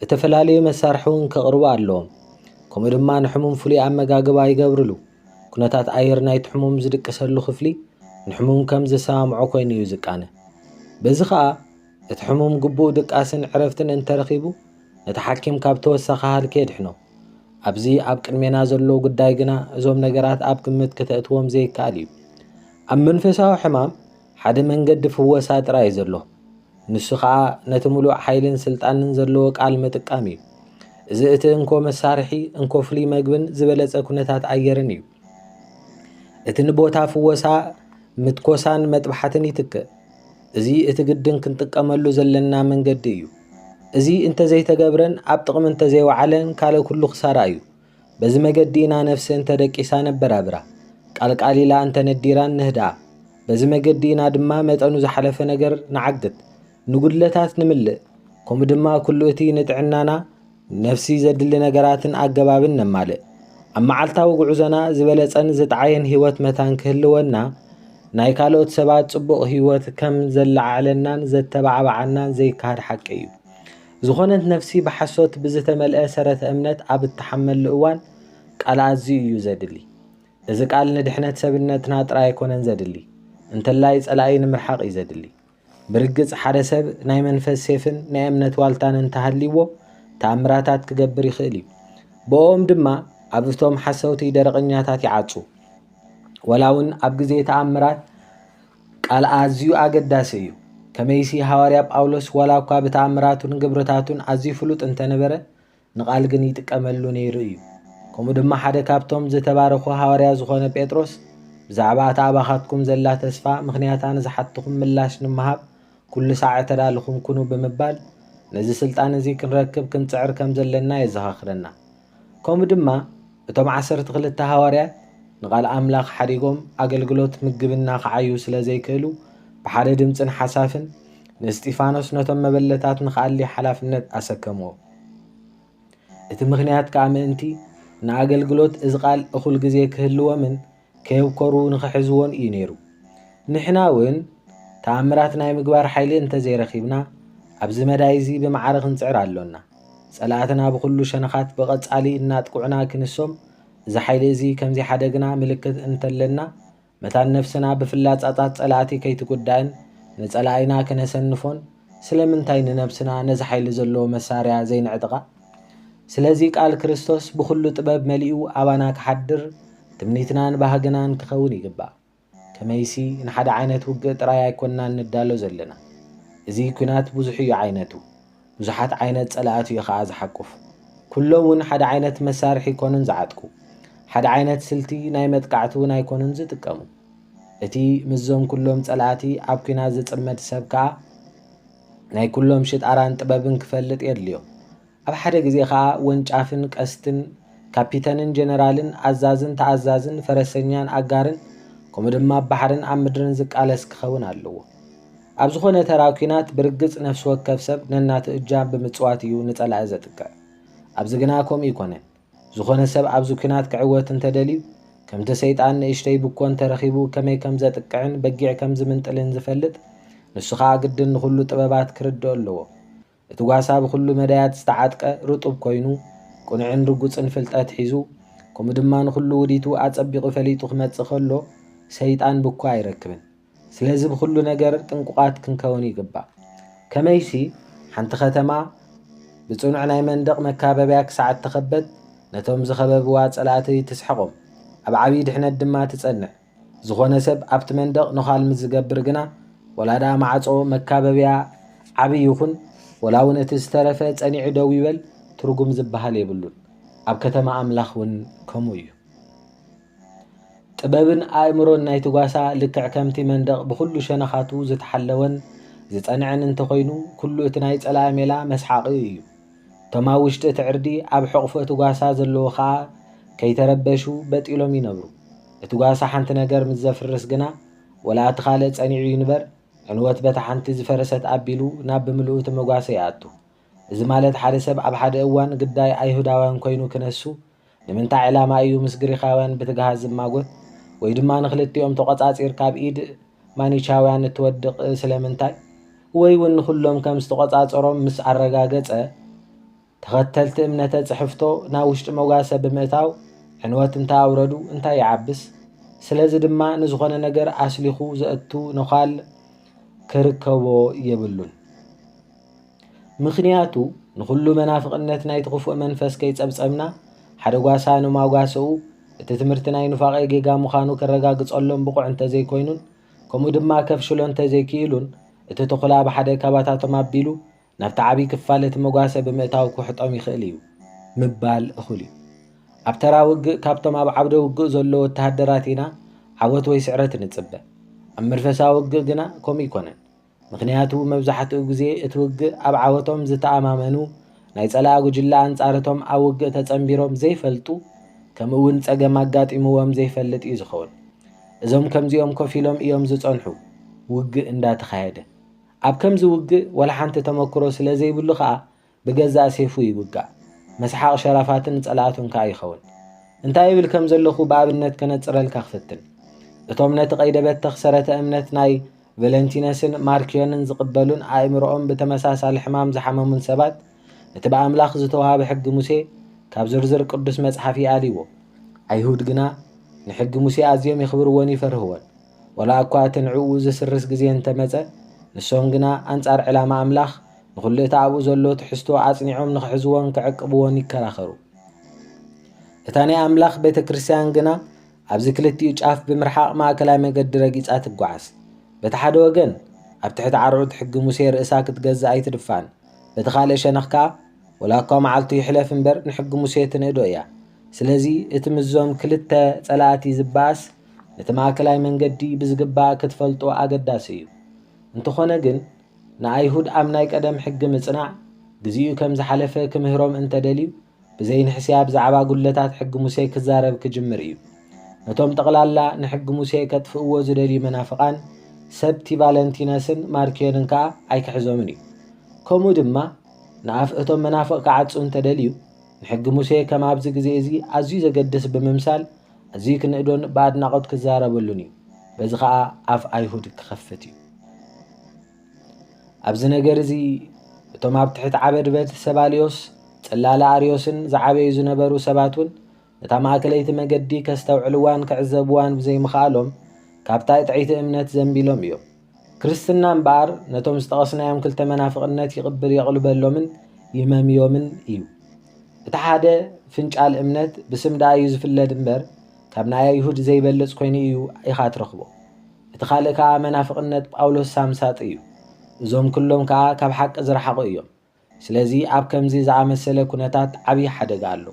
Speaker 1: እተፈላለዩ መሳርሒ እውን ከቕርቡ ኣለዎም። ከምኡ ድማ ንሕሙም ፍሉይ ኣመጋግባ ይገብርሉ። ኩነታት ኣየር ናይቲ ሕሙም ዝድቅሰሉ ክፍሊ ንሕሙም ከም ዝሰማምዖ ኮይኑ እዩ ዝቃነ። በዚ ከኣ እቲ ሕሙም ግቡእ ድቃስን ዕረፍትን እንተረኺቡ ነቲ ሓኪም ካብ ተወሳኺ ሃልኪ የድሕኖ። ኣብዚ ኣብ ቅድሜና ዘሎ ጉዳይ ግና እዞም ነገራት ኣብ ግምት ከተእትዎም ዘይከኣል እዩ። ኣብ መንፈሳዊ ሕማም፣ ሓደ መንገዲ ፍወሳ ጥራይ እዩ ዘሎ፣ ንሱ ኸኣ ነቲ ምሉእ ሓይልን ስልጣንን ዘለዎ ቃል ምጥቃም እዩ። እዚ እቲ እንኮ መሳርሒ፣ እንኮ ፍሉይ መግብን ዝበለጸ ኩነታት ኣየርን እዩ። እቲ ንቦታ ፍወሳ ምትኮሳን መጥባሕትን ይትክእ። እዚ እቲ ግድን ክንጥቀመሉ ዘለና መንገዲ እዩ። እዚ እንተ ዘይተገብረን ኣብ ጥቕሚ እንተ ዘይወዓለን ካልእ ኩሉ ክሳራ እዩ። በዚ መገዲ ኢና ነፍሲ እንተ ደቂሳ ነበራብራ፣ ቃልቃል ኢላ እንተ ነዲራን ንህድኣ። በዚ መገዲ ኢና ድማ መጠኑ ዝሓለፈ ነገር ንዓግት፣ ንጉድለታት ንምልእ፣ ከምኡ ድማ ኩሉ እቲ ንጥዕናና ነፍሲ ዘድሊ ነገራትን ኣገባብን ነማልእ። ኣብ መዓልታዊ ጉዕዞና ዝበለጸን ዝጥዓየን ህይወት መታን ክህልወና ናይ ካልኦት ሰባት ጽቡቕ ህይወት ከም ዘለዓዕለናን ዘተባዕባዓናን ዘይከሃድ ሓቂ እዩ። ዝኾነት ነፍሲ ብሓሶት ብዝተመልአ ሰረተ እምነት ኣብ እትሓመሉ እዋን ቃል ኣዝዩ እዩ ዘድሊ። እዚ ቃል ንድሕነት ሰብነትና ጥራይ ኣይኮነን ዘድሊ እንተላይ ጸላኢ ንምርሓቕ እዩ ዘድሊ። ብርግጽ ሓደ ሰብ ናይ መንፈስ ሴፍን ናይ እምነት ዋልታን እንተሃልይዎ ተኣምራታት ክገብር ይኽእል እዩ። ብእኦም ድማ ኣብ እቶም ሓሰውቲ ደረቕኛታት ይዓጹ። ወላ እውን ኣብ ግዜ ተኣምራት፣ ቃል ኣዝዩ ኣገዳሲ እዩ። ከመይሲ ሃዋርያ ጳውሎስ ዋላ እኳ ብተኣምራቱን ግብርታቱን ኣዝዩ ፍሉጥ እንተ ነበረ፣ ንቓል ግን ይጥቀመሉ ነይሩ እዩ። ከምኡ ድማ ሓደ ካብቶም ዝተባረኹ ሃዋርያ ዝዀነ ጴጥሮስ ብዛዕባ እታ ኣባኻትኩም ዘላ ተስፋ ምኽንያታ ንዝሓትኹም ምላሽ ንምሃብ ኵሉ ሳዕ እተዳለኹም ኩኑ ብምባል ነዚ ስልጣን እዚ ክንረክብ ክንጽዕር ከም ዘለና የዘኻኽረና። ከምኡ ድማ እቶም ዓሰርተ ክልተ ሃዋርያት ንቓል ኣምላኽ ሓዲጎም ኣገልግሎት ምግብና ክዓዩ ስለ ዘይክእሉ ብሓደ ድምጽን ሓሳፍን ንእስጢፋኖስ ነቶም መበለታት ንክኣሊ ሓላፍነት ኣሰከምዎ። እቲ ምክንያት ከኣ ምእንቲ ንኣገልግሎት እዚ ቃል እኹል ግዜ ክህልዎምን ከየብኮሩ ንኽሕዝዎን እዩ ነይሩ። ንሕና እውን ተኣምራት ናይ ምግባር ሓይሊ እንተ ዘይረኺብና፣ ኣብዚ መዳይ እዚ ብማዕረ ክንጽዕር ኣሎና። ጸላእትና ብኹሉ ሸነኻት ብቐጻሊ እናጥቅዑና ክንሶም፣ እዚ ሓይሊ እዚ ከም ዚሓደግና ምልክት እንተ ኣለና፣ መታን ነፍስና ብፍላጻታት ጸላእቲ ከይትጉዳእን ንጸላኢና ከነሰንፎን፣ ስለምንታይ ንነብስና ነዚ ሓይሊ ዘለዎ መሳርያ ዘይነዕጥቓ? ስለዚ ቃል ክርስቶስ ብኹሉ ጥበብ መሊኡ ኣባና ክሓድር ትምኒትናን ባህግናን ክኸውን ይግባእ። ከመይሲ ንሓደ ዓይነት ውግእ ጥራይ ኣይኮናን ንዳሎ ዘለና። እዚ ኲናት ብዙሕ እዩ ዓይነቱ፣ ብዙሓት ዓይነት ጸላእቱ እዩ ከኣ ዝሓቁፍ። ኩሎም እውን ሓደ ዓይነት መሳርሒ ኣይኮኑን ዝዓጥቁ፣ ሓደ ዓይነት ስልቲ ናይ መጥቃዕቲ እውን ኣይኮኑን ዝጥቀሙ። እቲ ምስዞም ኩሎም ጸላእቲ ኣብ ኲናት ዝጽመድ ሰብ ከኣ ናይ ኩሎም ሽጣራን ጥበብን ክፈልጥ የድልዮ። ኣብ ሓደ ግዜ ከኣ ወንጫፍን ቀስትን፣ ካፒተንን ጀነራልን፣ ኣዛዝን ተኣዛዝን፣ ፈረሰኛን ኣጋርን፣ ከምኡ ድማ ኣብ ባሕርን ኣብ ምድርን ዝቃለስ ክኸውን ኣለዎ። ኣብ ዝኾነ ተራ ኩናት ብርግጽ ነፍሲ ወከፍ ሰብ ነናቱ እጃም ብምጽዋት እዩ ንጸላኢ ዘጥቅዕ። ኣብዚ ግና ከምኡ ኣይኮነን። ዝኾነ ሰብ ኣብዚ ኩናት ክዕወት እንተደልዩ ከምቲ ሰይጣን ንእሽተይ ብኮ እንተረኺቡ ከመይ ከም ዘጥቅዕን በጊዕ ከም ዝምንጥልን ዝፈልጥ ንሱ ከኣ ግድን ንኹሉ ጥበባት ክርድኦ ኣለዎ። እቲ ጓሳ ብኹሉ መዳያት ዝተዓጥቀ ርጡብ ኮይኑ ቅኑዕን ርጉጽን ፍልጠት ሒዙ ከምኡ ድማ ንኹሉ ውዲቱ ኣጸቢቑ ፈሊጡ ክመጽእ ከሎ ሰይጣን ብኮ ኣይረክብን። ስለዚ ብኹሉ ነገር ጥንቁቓት ክንከውን ይግባእ። ከመይሲ ሓንቲ ኸተማ ብጽኑዕ ናይ መንደቕ መካበብያ ክሳዕ እተኸበት፣ ነቶም ዝኸበብዋ ጸላእቲ ትስሕቖም፣ ኣብ ዓብዪ ድሕነት ድማ ትጸንዕ። ዝኾነ ሰብ ኣብቲ መንደቕ ነዃል ምስ ዝገብር ግና፣ ወላ ደኣ ማዕጾ መካበብያ ዓቢ ይኹን፣ ወላ እውን እቲ ዝተረፈ ጸኒዑ ደው ይበል፣ ትርጉም ዝበሃል የብሉን። ኣብ ከተማ ኣምላኽ እውን ከምኡ እዩ። ጥበብን ኣእምሮን ናይቲ ጓሳ ልክዕ ከምቲ መንደቕ ብኹሉ ሸነኻቱ ዝተሓለወን ዝጸንዐን እንተኾይኑ ኩሉ እቲ ናይ ጸላኢ ሜላ መስሓቒኡ እዩ። እቶም ኣብ ውሽጢ እቲ ዕርዲ ኣብ ሕቕፎ እቲ ጓሳ ዘለዉ ከኣ ከይተረበሹ በጥ ኢሎም ይነብሩ። እቲ ጓሳ ሓንቲ ነገር ምስ ዘፍርስ ግና ወላ እቲ ካልእ ጸኒዑ ይንበር ዕንወት በታ ሓንቲ ዝፈረሰት ኣቢሉ ናብ ብምልኡ እቲ መጓሰ ይኣቱ። እዚ ማለት ሓደ ሰብ ኣብ ሓደ እዋን ግዳይ ኣይሁዳውያን ኮይኑ ክነሱ ንምንታይ ዕላማ እዩ ምስ ግሪኻውያን ብትግሃት ዝማጎት? ወይ ድማ ንኽልቲኦም ተቖጻጺርካ ኣብ ኢድ ማኒቻውያን እትወድቕ ስለምንታይ? ወይ ውን ንኹሎም ከም ዝተቖጻጸሮም ምስ ኣረጋገጸ ተኸተልቲ እምነተ ጽሕፍቶ ናብ ውሽጢ መጓሰ ብምእታው ዕንወት እንተ ኣውረዱ እንታይ ይዓብስ? ስለዚ ድማ ንዝኾነ ነገር ኣስሊኹ ዘእቱ ነዃል ክርከቦ የብሉን። ምኽንያቱ ንኹሉ መናፍቕነት ናይቲ ክፉእ መንፈስ ከይጸብጸብና ሓደ ጓሳ ንማጓሰኡ እቲ ትምህርቲ ናይ ኑፋቄ ጌጋ ምዃኑ ከረጋግጸሎም ብቑዕ እንተዘይኮይኑን ከምኡ ድማ ከፍሽሎ እንተዘይክኢሉን እቲ ተኹላ ብሓደ ካባታቶም ኣቢሉ ናብቲ ዓብዪ ክፋል እቲ መጓሰ ብምእታው ክውሕጦም ይኽእል እዩ ምባል እኹል እዩ። ኣብ ተራ ውግእ ካብቶም ኣብ ዓውደ ውግእ ዘሎ ወተሃደራት ኢና ዓወት ወይ ስዕረት እንጽበ። ኣብ መንፈሳዊ ውግእ ግና ከምኡ ኣይኮነን። ምኽንያቱ መብዛሕትኡ ግዜ እቲ ውግእ ኣብ ዓወቶም ዝተኣማመኑ፣ ናይ ጸላኢ ጉጅለ ኣንጻር'ቶም ኣብ ውግእ ተጸንቢሮም ዘይፈልጡ ከምኡ'ውን ጸገም ኣጋጢምዎም ዘይፈልጥ እዩ ዝኸውን። እዞም ከምዚኦም ኮፍ ኢሎም እዮም ዝጸንሑ ውግእ እንዳተኻየደ። ኣብ ከምዚ ውግእ ዋላ ሓንቲ ተመኩሮ ስለዘይብሉ ከኣ ብገዛእ ሴፉ ይውጋእ፣ መስሓቕ ሸራፋትን ጸላእቱን ከኣ ይኸውን። እንታይ እብል ከም ዘለኹ ብኣብነት ከነጽረልካ ክፍትን። እቶም ነቲ ቀይደ-በተኽ ሰረተ-እምነት ናይ ቨለንቲነስን ማርክዮንን ዝቕበሉን ኣእምሮኦም ብተመሳሳሊ ሕማም ዝሓመሙን ሰባት፣ እቲ ብኣምላኽ ዝተዋህበ ሕጊ ሙሴ ካብ ዝርዝር ቅዱስ መጽሓፍ ይኣልይዎ። ኣይሁድ ግና ንሕጊ ሙሴ ኣዝዮም የኽብርዎን ይፈርህዎን። ወላ እኳ እቲ ንዕኡ ዚስርስ ግዜ እንተ መጸ፣ ንሶም ግና ኣንጻር ዕላማ ኣምላኽ፣ ንዅሉ እቲ ኣብኡ ዘሎ ትሕዝቶ ኣጽኒዖም ንኺሕዝዎን ኪዕቅብዎን ይከራኸሩ። እታ ናይ ኣምላኽ ቤተ ክርስትያን ግና ኣብዚ ክልቲኡ ጫፍ ብምርሓቕ ማእከላይ መገዲ ረጊጻ ትጓዓዝ። በቲ ሓደ ወገን፣ ኣብ ትሕቲ ዓርዑት ሕጊ ሙሴ ርእሳ ክትገዝእ ኣይትድፋእን፣ በቲ ኻልእ ሸነኽ ከኣ፣ ወላ እኳ መዓልቱ ይሕለፍ እምበር፣ ንሕጊ ሙሴ ትንእዶ እያ። ስለዚ፣ እቲ ምስዞም ክልተ ጸላእቲ ዚበኣስ፣ ነቲ ማእከላይ መንገዲ ብዝግባእ ክትፈልጦ ኣገዳሲ እዩ። እንተኾነ ግን፣ ንኣይሁድ ኣብ ናይ ቀደም ሕጊ ምጽናዕ ግዜኡ ከም ዝሓለፈ ክምህሮም እንተ ደልዩ፣ ብዘይንሕስያ ብዛዕባ ጕድለታት ሕጊ ሙሴ ክዛረብ ክጅምር እዩ። ነቶም ጠቕላላ ንሕጊ ሙሴ ከጥፍእዎ ዝደልዩ መናፍቓን ሰብቲ ቫለንቲነስን ማርክዮንን ከኣ ኣይክሕዞምን እዩ። ከምኡ ድማ፣ ንኣፍ እቶም መናፍቕ ክዓጹ እንተ ደልዩ፣ ንሕጊ ሙሴ ከም ኣብዚ ግዜ እዚ ኣዝዩ ዘገድስ ብምምሳል ኣዝዩ ክንእዶን ብኣድናቖት ክዛረበሉን እዩ። በዚ ኸኣ ኣፍ ኣይሁድ ክኸፍት እዩ። ኣብዚ ነገር እዚ እቶም ኣብ ትሕቲ ዓበድበት ሰባልዮስ ጽላለ ኣርዮስን ዝዓበዩ ዝነበሩ ሰባት እውን ነታ ማእከለይቲ መገዲ ከስተውዕልዋን ክዕዘብዋን ብዘይምኽኣሎም ካብታ ጥዕይቲ እምነት ዘንቢሎም እዮም። ክርስትና እምበኣር ነቶም ዝጠቐስናዮም ክልተ መናፍቕነት ይቕብር የቕልበሎምን ይመምዮምን እዩ። እቲ ሓደ ፍንጫል እምነት ብስም ደኣ እዩ ዝፍለድ እምበር ካብ ናይ ኣይሁድ ዘይበልጽ ኮይኑ እዩ ኢኻ ትረኽቦ። እቲ ካልእ ከኣ መናፍቕነት ጳውሎስ ሳምሳጥ እዩ። እዞም ክሎም ከኣ ካብ ሓቂ ዝረሓቑ እዮም። ስለዚ ኣብ ከምዚ ዝኣመሰለ ኩነታት ዓብዪ ሓደጋ ኣሎ።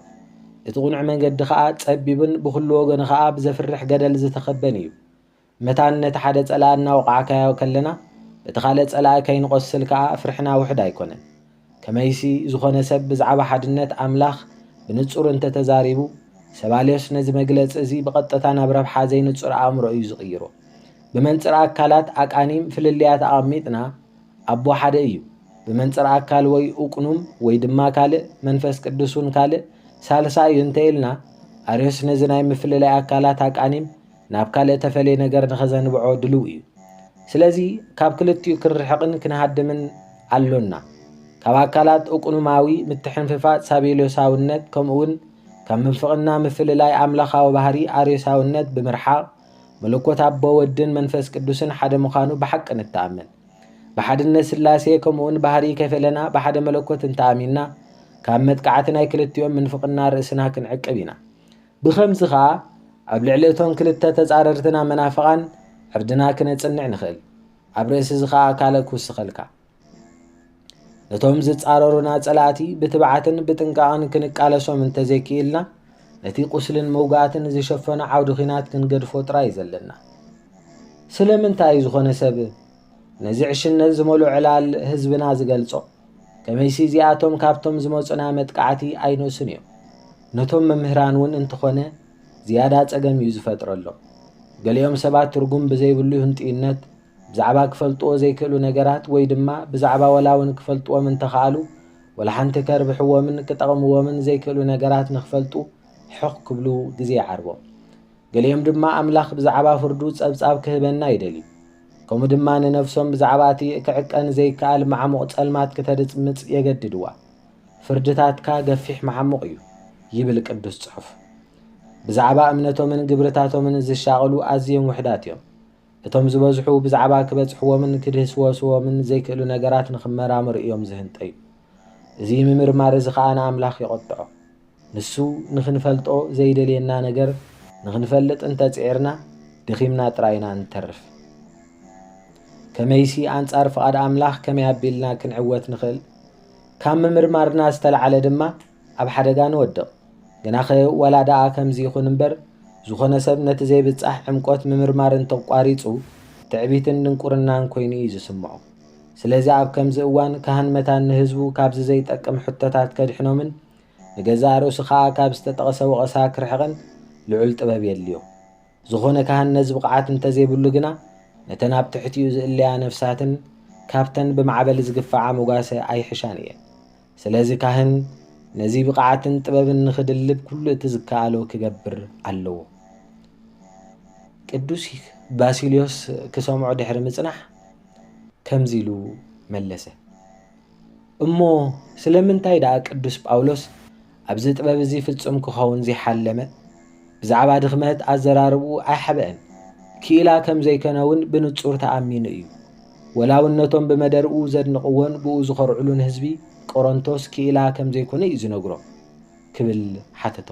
Speaker 1: እቲ ቅኑዕ መንገዲ ኸኣ ጸቢብን ብኹሉ ወገኑ ኸኣ ብዘፍርሕ ገደል ዝተኸበን እዩ። መታን ነቲ ሓደ ጸላኢ እናወቓዕካዮ ከለና በቲ ካልእ ጸላኢ ከይንቖስል ከኣ ፍርሕና ውሑድ ኣይኮነን። ከመይሲ ዝኾነ ሰብ ብዛዕባ ሓድነት ኣምላኽ ብንጹር እንተ ተዛሪቡ፣ ሰባልዮስ ነዚ መግለጺ እዚ ብቐጥታ ናብ ረብሓ ዘይንጹር ኣእምሮ እዩ ዝቕይሮ። ብመንጽር ኣካላት ኣቃኒም ፍልልያት ኣቐሚጥና፣ ኣቦ ሓደ እዩ ብመንጽር ኣካል ወይ ኡቅኑም ወይ ድማ ካልእ መንፈስ ቅዱስ ውን ካልእ ሳልሳይ እዩ እንተ ኢልና ኣርዮስ ነዚ ናይ ምፍልላይ ኣካላት ኣቃኒም ናብ ካልእ ተፈልየ ነገር ንኸዘንብዖ ድሉው እዩ ስለዚ ካብ ክልቲኡ ክንርሕቕን ክንሃድምን ኣሎና ካብ ኣካላት ኡቅኑማዊ ምትሕንፍፋጽ ሳቤልዮሳውነት ከምኡውን ካብ ምንፍቕና ምፍልላይ ኣምላኻዊ ባህሪ ኣርዮሳውነት ብምርሓቕ መለኮት ኣቦ ወድን መንፈስ ቅዱስን ሓደ ምዃኑ ብሓቂ ንተኣመን ብሓድነት ሥላሴ ከምኡውን ባህርይ ከይፈለና ብሓደ መለኮት እንተ ኣሚንና ካብ መጥቃዕቲ ናይ ክልቲኦም ምንፍቕና ርእስና ክንዕቅብ ኢና። ብኸምዚ ኸኣ ኣብ ልዕሊ እቶም ክልተ ተጻረርትና መናፍቓን ዕርድና ክነጽንዕ ንኽእል። ኣብ ርእሲ እዚ ኸኣ ካልእ ክውስኸልካ። ነቶም ዝጻረሩና ጸላእቲ ብትብዓትን ብጥንቃቕን ክንቃለሶም እንተዘይክኢልና ነቲ ቁስልን መውጋእትን ዝሸፈኖ ዓውዲ ኺናት ክንገድፎ ጥራይ ዘለና ስለምንታይ እዩ ዝኾነ ሰብ ነዚ ዕሽነት ዝመሉ ዕላል ህዝብና ዝገልጾ ከመይሲ እዚኣቶም ካብቶም ዝመፁና መጥቃዕቲ ኣይነሱን እዮም ነቶም መምህራን እውን እንተኾነ ዝያዳ ጸገም እዩ ዝፈጥረሎም ገሊኦም ሰባት ትርጉም ብዘይብሉ ህንጥዩነት ብዛዕባ ክፈልጥዎ ዘይክእሉ ነገራት ወይ ድማ ብዛዕባ ወላውን ክፈልጥዎም እንተኸኣሉ ወላሓንቲ ከርብሕዎምን ክጠቕምዎምን ዘይክእሉ ነገራት ንክፈልጡ ሕቕ ክብሉ ግዜ ይዓርቦም። ገሊኦም ድማ ኣምላኽ ብዛዕባ ፍርዱ ጸብጻብ ክህበና ይደልዩ። ከምኡ ድማ ንነፍሶም ብዛዕባ እቲ ክዕቀን ዘይከኣል መዓሙቕ ጸልማት ክተድምጽ የገድድዋ። ፍርድታትካ ገፊሕ መዓሙቕ እዩ ይብል ቅዱስ ጽሑፍ። ብዛዕባ እምነቶምን ግብርታቶምን ዝሻቐሉ ኣዝዮም ውሕዳት እዮም። እቶም ዝበዝሑ ብዛዕባ ክበጽሕዎምን ክድህስወስዎምን ዘይክእሉ ነገራት ንኽመራመሩ እዮም ዝህንጠዩ። እዚ ምምርማር እዚ ኸኣ ንኣምላኽ የቖጥዖ። ንሱ ንኽንፈልጦ ዘይደልየና ነገር ንኽንፈልጥ እንተ ጽዒርና ደኺምና ጥራይ ኢና እንተርፍ። ከመይሲ ኣንጻር ፍቓድ ኣምላኽ ከመይ ኣቢልና ክንዕወት ንኽእል? ካብ ምምርማርና ዝተላዕለ ድማ ኣብ ሓደጋ ንወድቕ። ግናኸ ዋላ ደኣ ከምዚ ይኹን እምበር፣ ዝኾነ ሰብ ነቲ ዘይብጻሕ ዕምቈት ምምርማር እንተ ኣቋሪጹ፣ ትዕቢትን ድንቍርናን ኰይኑ እዩ ዝስምዖ። ስለዚ ኣብ ከምዚ እዋን ካህን መታን ንህዝቡ ካብዚ ዘይጠቅም ሕቶታት ከድሕኖምን ንገዛእ ርእሱ ኸኣ ካብ ዝተጠቕሰ ወቐሳ ክርሕቕን ልዑል ጥበብ የድልዮ። ዝኾነ ካህን ነዚ ብቕዓት እንተ ዘይብሉ ግና ነተን ኣብ ትሕቲኡ ዝእለያ ነፍሳትን ካብተን ብማዕበል ዝግፍዓ መጓሰ ኣይሕሻን እየን። ስለዚ ካህን ነዚ ብቕዓትን ጥበብን ንኽድልብ ኩሉ እቲ ዝከኣሎ ክገብር ኣለዎ። ቅዱስ ባሲልዮስ ክሰምዖ ድሕሪ ምጽናሕ ከምዚ ኢሉ መለሰ፣ እሞ ስለምንታይ ደኣ ቅዱስ ጳውሎስ ኣብዚ ጥበብ እዚ ፍጹም ክኸውን ዘይሓለመ? ብዛዕባ ድኽመት ኣዘራርብኡ ኣይሓበእን። ክኢላ ከም ዘይከነ ውን ብንጹር ተኣሚኑ እዩ። ወላውን ነቶም ብመደርኡ ዘድንቕዎን ብኡ ዝኾርዕሉን ህዝቢ ቆሮንቶስ ክኢላ ከም ዘይኮነ እዩ ዝነግሮም። ክብል ሓተቶ።